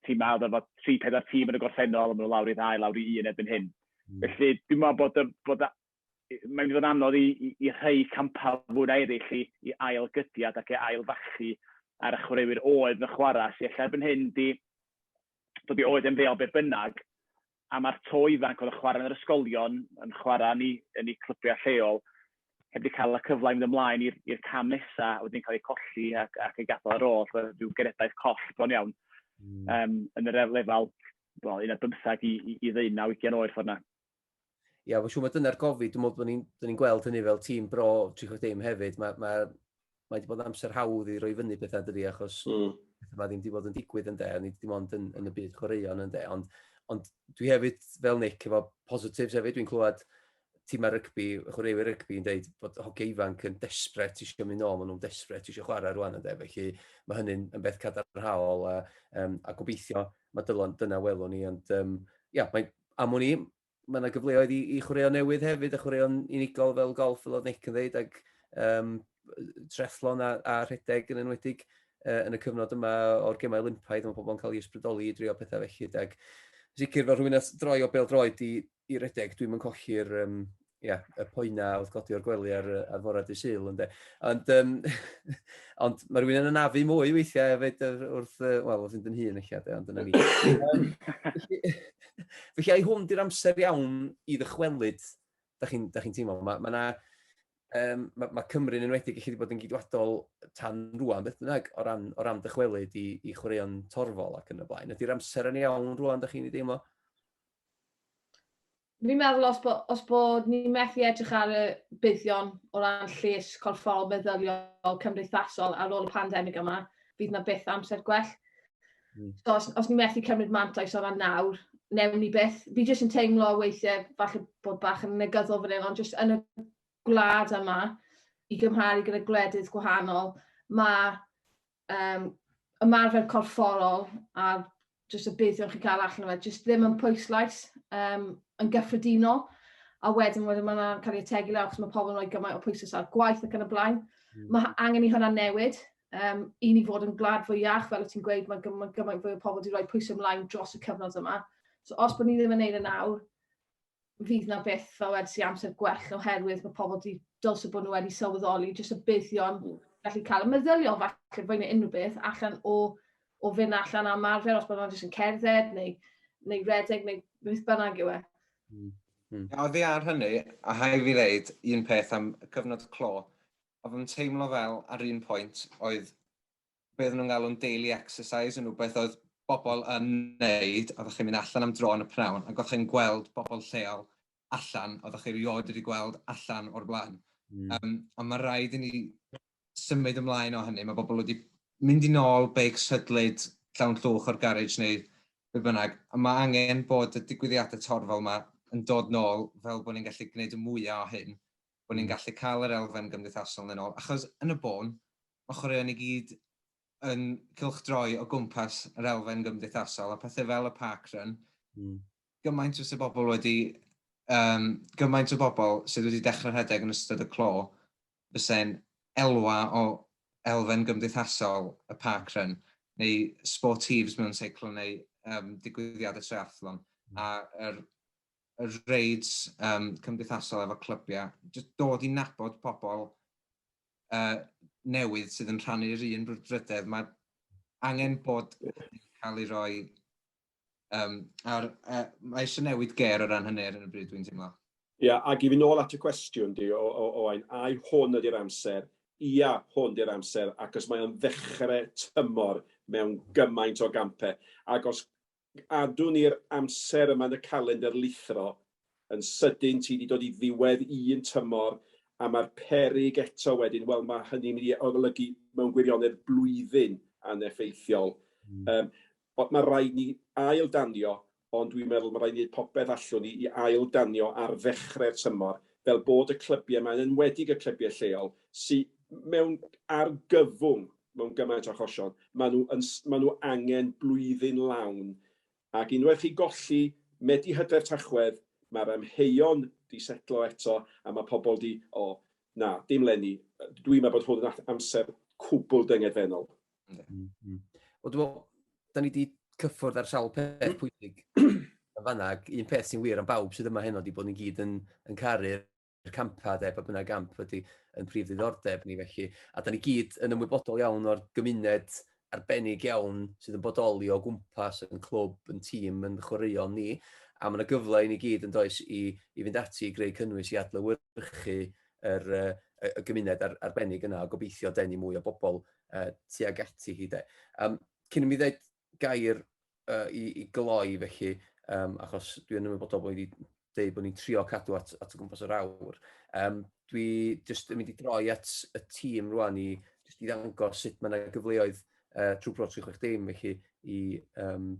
Speaker 5: timau oedd efo tri, pedair tîm yn y gorffennol, a maen nhw lawr i ddau, lawr i un erbyn hyn. Mm. Felly dwi'n meddwl bod y bod a- mae'n mynd i fod yn anodd i i i rhai campau fwy na eraill i i ail gydiad ac i ail fachu ar y chwaraewyr oedd yn chwarae, sy ella erbyn hyn 'di dod i oed ymddeol be' bynnag, a ma'r tô ifanc oedd yn chwarae yn yr ysgolion, yn chwarae yn eu yn eu clybiau lleol, heb 'di cael y cyfle i fynd ymlaen i'r i'r cam nesa, a wedyn cael eu colli ac ac eu gadael ar ôl, so ryw genedlaeth coll bron iawn. Mm. Um, yn yr lefel, wel, un ar bymthag i, i, i ddeunaw, ugian oed ffordd na. Ia, yeah,
Speaker 1: siw, mae dyna'r gofid, dwi'n meddwl bod ni'n ni gweld hynny fel tîm bro 30 hefyd, mae ma, mae wedi bod yn amser hawdd i roi fyny pethau dydi, achos mm. pethau mae ddim wedi bod yn digwydd yn de, ni wedi bod yn, yn y byd chwaraeon yn de, ond, ond dwi hefyd, fel Nick, efo positives hefyd, dwi'n clywed tîmau rygbi, chwaraewyr rygbi yn dweud bod hogiau ifanc yn desbret eisiau mynd nôl, maen nhw'n desbret eisiau chwarae rwan yn de, felly mae hynny'n yn beth cadarnhaol a, um, a gobeithio mae dylon, dyna welwn ni, ond um, ia, mae, am o'n i, mae yna gyfleoedd i, i chwaraeon newydd hefyd, a chwaraeon unigol fel golf, fel oedd Nick yn dweud, ac um, trethlon a, a rhedeg yn enwedig uh, yn y cyfnod yma o'r gemau Olympaidd, mae pobl yn cael ei ysbrydoli i drio pethau felly, ac sicr fel rhywun a droi o bel droed i, i redeg, dwi'n mynd colli'r um, ia, y poena wrth godi o'r gwely ar, ar fore dy syl ynde. Ond, um, ond mae rhywun yn anafu mwy weithiau hefyd wrth, uh, wel, wrth fynd yn hun eich ade, ond dyna ni. Felly, ai hwn di'r amser iawn i ddychwelyd, da chi'n chi teimlo? Mae ma um, ma, ma Cymru'n enwedig i chi wedi bod yn gydwadol tan rwan, beth bynnag, o ran, o ran dychwelyd i, i chwaraeon torfol ac yn y blaen. Ydy'r amser yn iawn rwan, da chi'n ei deimlo?
Speaker 4: Fi'n meddwl os, bo, os bod ni'n methu edrych ar y buddion o ran lles corfforol, meddyliol, cymdeithasol ar ôl y pandemig yma, fydd yna byth amser gwell. Mm. So os, os ni methu cymryd mantais o ran nawr, newn ni beth. Fi jyst yn teimlo weithiau falle bod bach yn negyddol fan hyn, ond jyst yn y gwlad yma, i gymharu gyda gwledydd gwahanol, mae um, ymarfer corfforol a jyst y buddion chi'n cael allan o fe, jyst ddim yn pwyslais um, yn gyffredinol. A wedyn, wedyn mae'n cael ei ategu lawr, achos mae pobl yn rhoi gymaint o pwyslais ar gwaith ac yn y blaen. Mm. Mae angen i hwnna newid, um, i ni fod yn gwlad fwy iach, fel o ti'n gweud, mae gymaint gyma fwy o pobl wedi rhoi pwysau ymlaen dros y cyfnod yma. So os bod ni ddim yn neud yn awr, fydd na beth fel wedi si amser gwell oherwydd mae pobl wedi dylse bod nhw wedi sylweddoli jyst y buddion mm. gallu cael y meddylion falle fwy neu unrhyw beth allan o, o fynd allan am arfer os bod nhw'n jyst yn cerdded neu, neu redeg neu beth bynnag yw e. Mm. Mm.
Speaker 6: Oddi ar hynny, a hai fi ddeud un peth am cyfnod clo, Oedd yn teimlo fel, ar un pwynt, oedd be oedden nhw'n galw'n daily exercise yn rhywbeth oedd bobl yn wneud, oeddech chi'n mynd allan am dro yn y p'nawn, ac oeddech chi'n gweld bobl lleol allan, oeddech chi rioed wedi gweld allan o'r blaen. Mm. Um, ond mae rhaid i ni symud ymlaen o hynny. Mae bobl wedi mynd i nôl beic sydlyd llawn llwch o'r garej neu be bynnag. A mae angen bod y digwyddiadau torfol yma yn dod nôl fel bod ni'n gallu gwneud y mwyaf o hyn bod ni'n gallu cael yr elfen gymdeithasol yna nôl, achos yn y bôn, mae chwaraeon i gyd yn cylchdroi o gwmpas yr elfen gymdeithasol, a pethau fel y park run, mm. gymaint o bobl wedi, um, gymaint o bobl sydd wedi dechrau rhedeg yn ystod y clo, fysa'n elwa o elfen gymdeithasol y park run, neu sportives mewn seiclo neu um, digwyddiadau triathlon, mm. a'r er, y raids um, cymdeithasol efo clybiau, jyst dod i nabod pobl uh, newydd sydd yn rhannu'r un brwdfrydedd. Mae angen bod cael ei roi... Um, ar, uh, mae eisiau newid ger o ran hynny ar y bryd dwi'n teimlo. Ia, yeah, ac i fi
Speaker 3: nôl at y cwestiwn di, o, o, o ein, ai hwn ydy'r amser? Ia, hwn ydy'r amser, ac os mae'n ddechrau tymor mewn gymaint o gampau, ac os Cadw ni'r amser yma yn y calendr lithro, yn sydyn ti 'di dod i ddiwedd un tymor a mae'r peryg eto wedyn, wel mae hynny'n mynd i olygu mewn gwirionedd blwyddyn aneffeithiol. Yym ond mae rhaid ni ail danio, ond dwi'n meddwl mae rhaid ni wneud popeth allwn ni i ail danio ar ddechrau'r tymor, fel bod y clybiau 'ma, yn enwedig y clybiau lleol, sy mewn argyfwng mewn gymaint o achosion, maen nhw yn s- maen nhw angen blwyddyn lawn ac unwaith chi golli Medi Hydref Tachwedd mae'r amheuon 'di setlo eto a mae pobl 'di o na dim leni dwi'n meddwl bod hwn yn at- amser cwbl dyngedfennol. Yndi. Mm, mm.
Speaker 1: Wel dwi'n meddwl, da ni wedi cyffwrdd ar sawl peth pwysig yn fanna, ac un peth sy'n wir am bawb sydd yma heno ydy bod ni gyd yn, yn caru'r campau de, pa bynnag gamp ydy yn prif ddiddordeb ni felly. A da ni gyd yn ymwybodol iawn o'r gymuned arbennig iawn sydd yn bodoli o gwmpas yn clwb, yn tîm, yn chwaraeon ni. A mae yna gyfle i ni gyd yn does i, i fynd ati i greu cynnwys i adlywyrchu yr, uh, y gymuned ar, arbennig yna a gobeithio denu mwy o bobl uh, tuag ati hi de. Um, cyn i mi ddweud gair uh, i, i gloi felly, um, achos dwi yn ymwybodol bod wedi dweud bod ni'n trio cadw at, at y gwmpas yr awr. Um, dwi jyst yn mynd i droi at y tîm rwan i jyst i ddangos sut mae yna gyfleoedd uh, trwy Pro 360 felly i, um,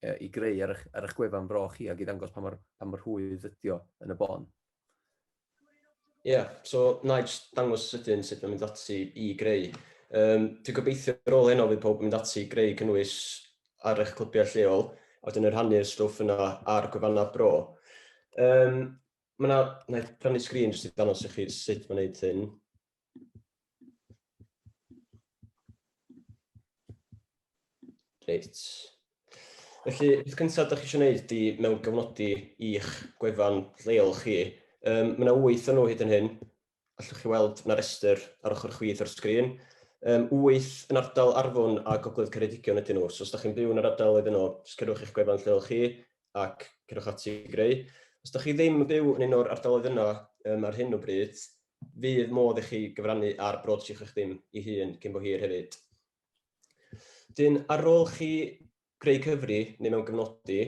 Speaker 1: uh, i greu ar eich, ar eich gwefan fro chi ac i ddangos pa mor, pa mor hwydd ydio yn y bon.
Speaker 8: Ia, so na i jyst dangos sydyn sut mae'n mynd ati i greu. Um, dwi'n gobeithio ar ôl heno fydd pawb yn mynd ati i greu cynnwys ar eich clybiau lleol, a wedyn yn rhannu'r stwff yna ar gwefannau bro. Um, mae yna, na i rannu sgrin jyst i ddangos i chi sut mae'n gwneud hyn. Reit. Felly, beth cyntaf ydych chi eisiau gwneud i mewn gyfnodi i'ch gwefan lleol chi? Um, mae yna wyth o nhw hyd yn hyn. Allwch chi weld na restr ar ochr chwith o'r sgrin. Um, wyth yn ardal Arfon a Gogledd Ceredigion ydyn nhw. So os ydych chi'n byw yn yr ardal iddyn nhw, sgyrwch eich gwefan lleol chi ac cerwch ati i greu. Os ydych chi ddim yn byw yn un o'r ardaloedd yna um, ar hyn o bryd, fydd modd i chi gyfrannu ar broadseach eich dim i hun cyn bo hir hefyd. Dyn, ar ôl chi greu cyfri neu mewn gyfnodi,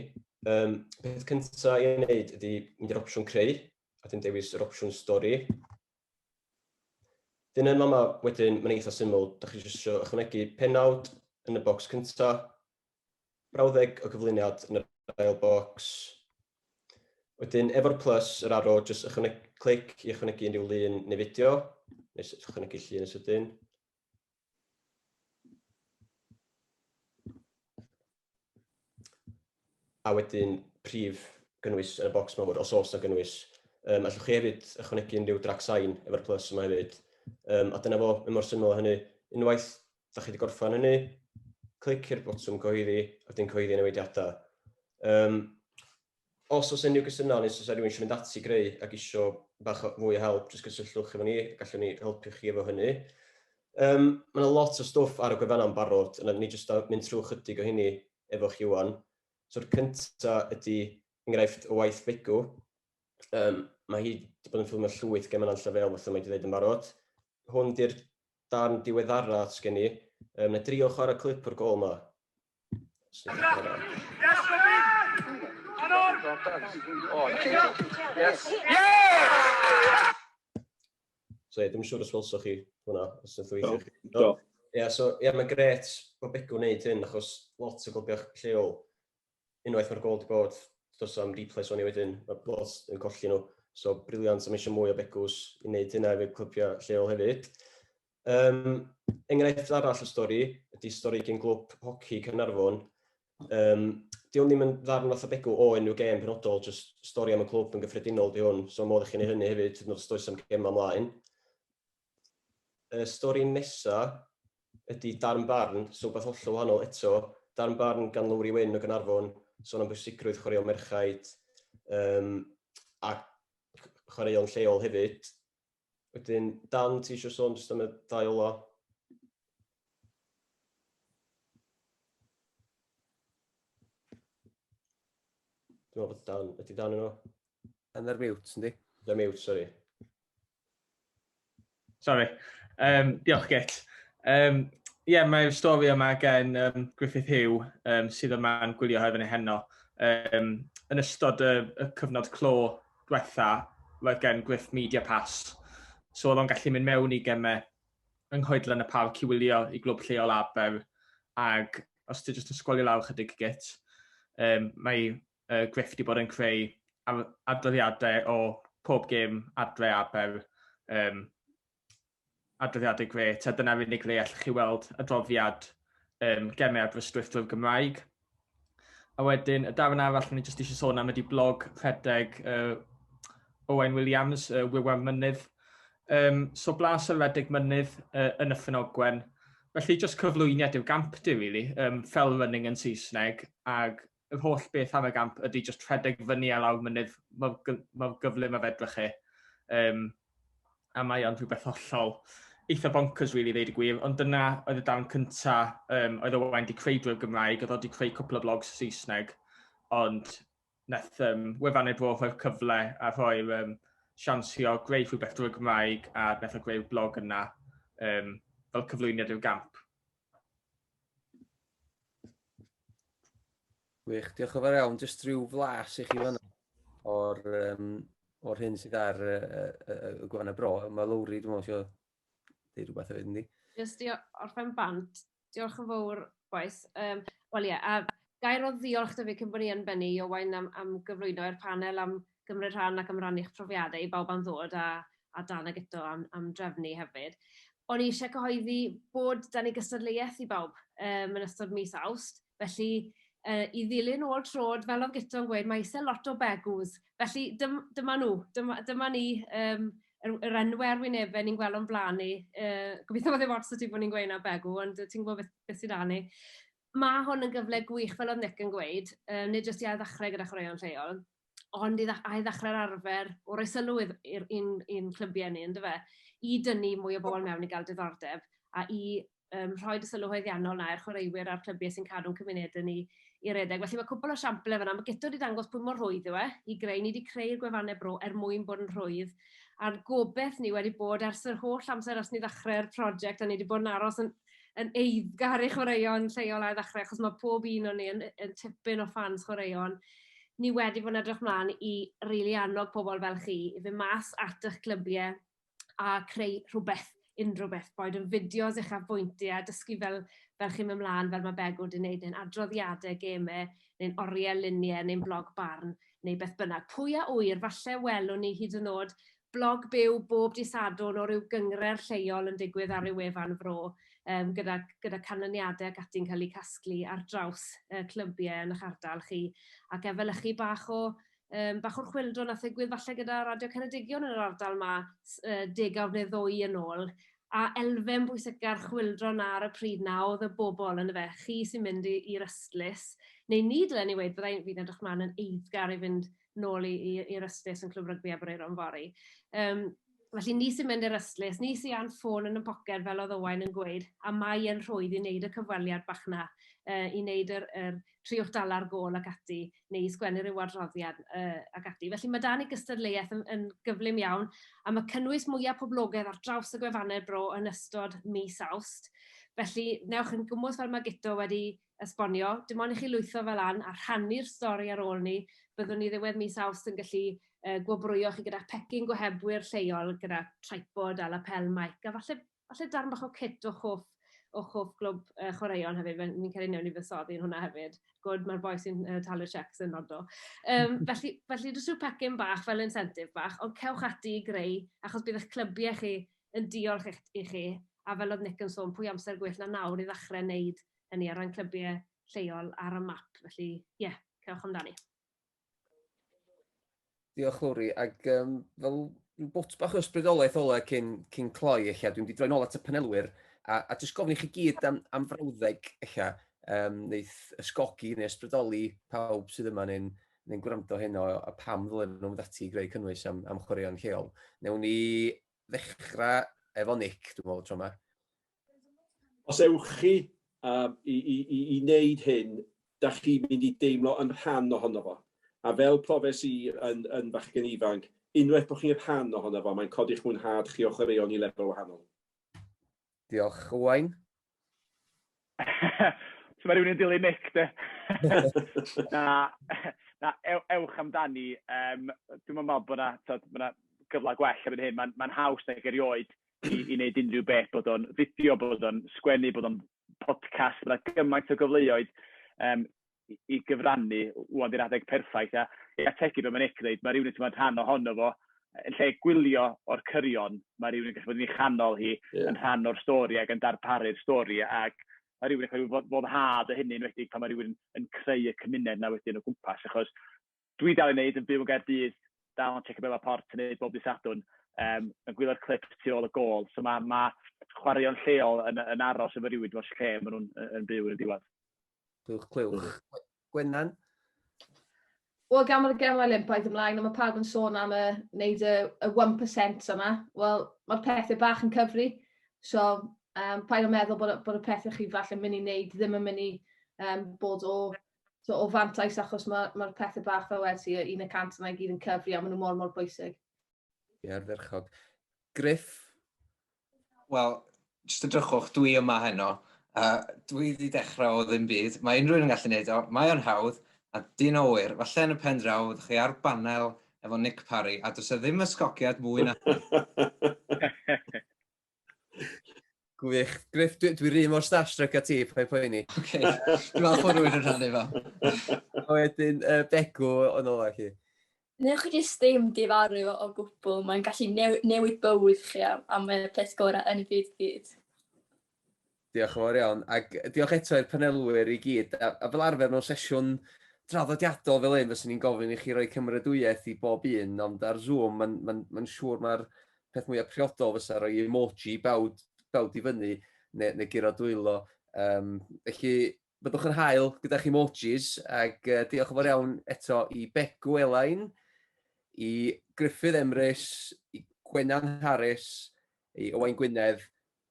Speaker 8: um, peth cyntaf i wneud ydy mynd i'r opsiwn creu, a dyn dewis yr opsiwn stori. Dyn yma mae wedyn, mae'n eitha syml, da chi eisiau ychwanegu penawd yn y bocs cyntaf, brawddeg o gyflwyniad yn yr ail bocs. Wedyn, efo'r plus, yr arrow, jyst ychwanegu, clic i ychwanegu unrhyw lun neu fideo, neu ychwanegu llun yn sydyn. A wedyn, prif gynnwys yn y bocs mawr, os oes na gynnwys. Um, allwch chi hefyd ychwanegu unrhyw drag sain efo'r plus yma hefyd. Um, a dyna fo, mae mor syml o hynny. Unwaith da chi wedi gorffen hynny, clici'r botwm cyhoeddi, a wedyn cyhoeddi newidiadau. Um, os oes unrhyw gwestiynau, neu os oes rhywun eisiau mynd ati greu ac eisiau bach fwy o help, jyst cysylltwch efo ni, gallwn ni helpu chi efo hynny. Um, mae yna lot o stwff ar y gwefan am barod, yna ni jyst mynd trwy chydig o hynny efo chi wan. So'r cynta ydy enghraifft o waith Begu. Um, mae hi wedi bod yn ffilmio llwyth gemau yn llefel, fatha mae wedi dweud yn barod. Hwn di'r darn diweddara sgen i. Yym, na drio chwarae clip o'r gol ma. So ie, dwi'n siŵr os welsoch chi hwnna, os ydych chi eisiau. Do. Ie, so ie, mae'n gret bod Begw'n wneud hyn, achos lot o glybiau lleol unwaith mae'r gôl 'di bod, does am replays o'n i wedyn, mae lot yn colli nhw. So, briliant, a mae eisiau mwy o begws i wneud hynna efo'r clybiau lleol hefyd. Um, enghraifft arall o stori ydy stori gen glwb hoci Cynarfon. Um, di hwn ddim yn ddarn fath o begw o enw gêm penodol, jyst stori am y clwb yn gyffredinol di hwn, so modd i chi'n ei hynny hefyd, hyd yn oed os does am gem ymlaen. Y stori nesa' ydi darn barn, so wbath hollol wahanol eto, darn barn gan Lowri Wyn o Gaernarfon, son am bwysigrwydd chwaraeon merchaid um, a chwaraeon lleol hefyd. Wedyn, Dan, ti eisiau sôn jyst am y ddau ola? Dwi'n meddwl bod Dan, ydy Dan yno? Dan ar
Speaker 1: mute, yndi? Dan mute, sori.
Speaker 9: Sorry. Um, diolch, Git. Um, Ie, yeah, mae'r stori yma gen um, Griffith Hugh um, sydd yma'n gwylio hefyd ei heno. Um, yn ystod y, y cyfnod clo diwetha, roedd gen Griff Media Pass. So oedd o'n gallu mynd mewn i gemau yng nghoedlan y parc i wylio i glwb lleol Aber. Ac os ti jyst yn sgwalio lawr chydig git, um, mae y grefft i bod yn creu adroddiadau o pob gêm adre a fel um, adroddiadau gret, a dyna'r unig le allwch chi weld adroddiad um, gemau Aberystwyth drwy'r Gymraeg. A wedyn, y darn arall ni jyst eisiau sôn am ydy blog rhedeg uh, Owain Williams, uh, Wywan Mynydd. Um, so blas ar redeg mynydd uh, yn y ffynogwen. Felly, jyst cyflwyniad i'r gampdy, really, um, fel running yn Saesneg, ac yr holl beth am y gamp ydy jyst rhedeg fyny a lawr mynydd mor, mor gyflym a fedrwch chi. Um, a mae o'n rhywbeth hollol eitha bonkers, really, ddeud y gwir, ond dyna oedd y darn cynta, um, oedd Owain wedi creu drwy'r Gymraeg, oedd wedi creu cwpl o blogs Saesneg, ond nath um, wefan ei bro rhoi'r cyfle a rhoi'r um, sians i o greu rhywbeth drwy'r Gymraeg a nath o greu'r blog yna um, fel cyflwyniad i'r gamp.
Speaker 1: Wych, diolch yn fawr iawn. Jyst rhyw flas i chi fan o'r, um, or hyn sydd ar y, y, y gwan y bro. Mae Lowri, dwi'n meddwl, eisiau dweud rhywbeth hefyd, yndi? Jyst i orffen
Speaker 10: bant, diolch yn fawr, boes. Um, Wel ie, yeah, a gair o ddiolch dyfu cyn bod ni yn bennu i Owain am, am gyflwyno i'r panel am gymryd rhan ac am rannu eich profiadau i bawb am ddod a a Dan ag eto am am drefnu hefyd. O'n i eisiau cyhoeddi bod dan ni gystadleuaeth i bawb um, yn ystod mis Awst, felly uh, i ddilyn ôl trod, fel oedd Gito'n gweud, mae eisiau lot o begws. Felly dym, dyma nhw, dyma, dyma ni um, yr, yr enwau ar wynebau ni'n gweld o'n blaen ni. Uh, gobeithio bod ddim ots o ti bod ni'n gweud na begw, ond ti'n gwybod beth, beth sydd â ni. Mae hwn yn gyfle gwych, fel oedd Nick yn gweud, um, nid jyst i ail ddechrau gyda chwaraeon lleol, ond i dda- ail ddechrau'r arfer o roi sylw idd- i'r i'n i'n clybiau ni yndyfe i dynnu mwy o bobl mewn i gael diddordeb a i yym rhoi dy sylw haeddiannol 'na i'r chwaraewyr a'r clybiau sy'n cadw'n cymunedau ni i redeg. Felly mae cwpl o siamplau fyna. Mae Guto wedi dangos pwy mor rhwydd yw e i greu. Ni wedi creu'r gwefannau bro er mwyn bod yn rhwydd. A'r gobeith ni wedi bod ers yr holl amser ers ni ddechrau'r prosiect a ni wedi bod yn aros yn yn eiddgar i chwaraeon lleol a'i ddechrau, achos mae pob un o'n ni yn, yn tipyn o ffans chwaraeon ni wedi bod yn edrych mlaen i rili annog pobl fel chi i fyn' mas at 'ych clybiau a creu rhywbeth, unrhyw beth, boed yn fideos eich afbwyntiau, dysgu fel fel chi'n mynd mlaen fel ma' Begw 'di neud neu'n adroddiade geme neu'n oriel lunie neu'n blog barn neu beth bynnag. Pwy a ŵyr, falle welwn ni hyd yn o'd blog byw bob dydd Sadwrn o ryw gynghrair lleol yn digwydd ar ryw wefan fro, yym gyda gyda canlyniade ac ati'n cael eu casglu ar draws yy clybiau yn 'ych ardal chi, ac efelychu bach o yym bach o'r chwyldro nath ddigwydd falle gyda Radio Ceredigion yn yr ardal 'ma s- yy degawd neu ddwy yn ôl, a elfen bwysica'r chwyldro 'na ar y pryd 'na o'dd y bobl on' yfe, chi sy'n mynd i i'r ystlys, neu ni dylen i weud fyddai'n fi'n edrych mlan yn eiddgar i fynd nôl i, i, i'r ystlys yn Clwb Rygbi Aberaeron fory. Um, Felly ni sy'n mynd i'r ystlys, ni sy'n a'n ffôn yn y poced fel oedd Owain yn gweud, a mae e'n rhwydd i wneud y cyfweliad bach na, uh, i wneud yr, yr triwch dala'r gol ac ati, neu i sgwennu rhyw adroddiad uh, ac ati. Felly mae dan i gystadleuaeth yn, yn gyflym iawn, a mae cynnwys mwyaf poblogaidd ar draws y gwefannau bro yn ystod mis awst. Felly, newch yn gwmwys fel mae Gito wedi esbonio, dim ond i chi lwytho fe lan a rhannu'r stori ar ôl 'ny, byddwn ni ddiwedd mis Awst yn gallu gwobrwyo chi gyda phecyn gohebwyr lleol gyda tripod a lapel mic a falle falle darn bach o kit o'ch hoff o'ch hoff glwb yy chwaraeon hefyd fe- fi'n credu newn ni fuddsoddi yn hwnna hefyd. Gwd ma'r boi sy'n yy talu'r cheques yn nodo. Yym felly felly jyst rhyw pecyn bach fel incentive bach ond cewch ati i greu achos bydd 'ych clybiau chi yn diolch i'ch i chi a fel o'dd Nick yn sôn pwy amser gwell na nawr i ddachre neud hynny o ran clybiau lleol ar y map, felly ie, cerwch amdani.
Speaker 1: Diolch Lowri, ac um, fel rhyw bwt bach o ysbrydolaeth ole cyn, cyn cloi eich, dwi'n di droi'n ôl at y panelwyr, a, a jyst gofyn i chi gyd am, am frawddeg eich, um, neu'th ysgogi neu ysbrydoli pawb sydd yma neu'n neu gwrando hyn o, a pam ddylen nhw'n mynd ati i greu cynnwys am, am chwaraeon lleol. Newn ni ddechrau efo Nick, dwi'n meddwl, tro yma.
Speaker 3: Os ewch chi uh, i, i, i, i wneud hyn, da chi'n mynd i deimlo yn rhan ohono fo. A fel profes i yn, yn fachgen ifanc, unwaith bod chi'n rhan ohono fo, mae'n codi'ch mwynhad chi o chwaraeon i lefel wahanol.
Speaker 1: Diolch, Owain.
Speaker 5: so mae rhywun yn dilyn Nick, de? na, na, ew, ewch amdani. Um, dwi'n meddwl bod yna ma gyfle gwell erbyn hyn. Mae'n ma haws nag erioed i, i wneud unrhyw beth, bod o'n fideo, bod o'n sgwennu, bod o'n podcast, bod yna gymaint o gyfleoedd um, i, i gyfrannu wwan di'r adeg perffaith. A i ategu beth mae'n Nick dweud, mae rhywun yn teimlo'n rhan ohono fo, yn lle gwylio o'r cyrion, mae rhywun yn gallu bod yn ei chanol hi, yeah. yn rhan o'r stori ac yn darparu'r stori, ac mae rhywun yn cael ei foddhad o hynny, yn wedi pan mae rhywun yn creu y cymuned na wedyn o gwmpas, achos Dwi dal i wneud, yn byw yn Gaerdydd, dal yn tsecio Bale a Porth yn wneud bob dydd Sadwrn, yym, yn gwylio'r clips tu ôl y gôl. So ma' ma' chwaraeon lleol yn yn aros efo rywun dros lle maen nhw'n yy yn byw yn y diwedd. Clywch, clywch.
Speaker 1: Gwenan?
Speaker 4: Wel, gan bod y Gemau Olympaidd ymlaen a mae pawb yn sôn am y wneud y, y 1% yma, wel, mae'r pethau bach yn cyfri. So, um, paid o meddwl bod, bod y pethau chi falle mynd i wneud ddim yn mynd i um, bod o so, o fantais achos mae'r ma, ma pethau bach fel wedi i, un y cant yma i gyd yn cyfri a maen nhw mor mor bwysig. Ie, yeah,
Speaker 1: ferchog. Griff?
Speaker 6: Wel, jyst edrychwch, dwi yma heno. Uh, dwi wedi dechrau o ddim byd. Mae unrhyw un yn gallu gwneud o. Mae o'n hawdd a dyn o wir. Falle yn y pen draw, ydych chi ar banel efo Nick Parry, a dwi'n e ddim ysgogiad mwy na...
Speaker 1: Gwych. Griff, dwi'n dwi rhi mor starstruck a ti, pa'n poeni. Oce, dwi'n
Speaker 6: falch bod rwy'n rhannu fo. A wedyn,
Speaker 1: uh, Begw yn ola chi. Neu chi jyst
Speaker 2: ddim difaru fo o gwbl, mae'n gallu new newid bywyd chi am, am y peth gorau yn y byd byd.
Speaker 1: Diolch yn fawr iawn, ac diolch eto i'r panelwyr i gyd. A, a fel arfer mewn sesiwn draddodiadol fel hyn, fyswn i'n gofyn i chi roi cymeradwyaeth i bob un, ond ar Zoom, mae'n ma ma, ma siŵr mae'r peth mwyaf priodol fysa roi emoji bawd, bawd i fyny, neu, neu giro dwylo. Um, felly, byddwch yn hael gyda'ch emojis, ac uh, diolch yn fawr iawn eto i Begw Elain, i Griffith Emrys, i Gwenan Harris, i Owain Gwynedd,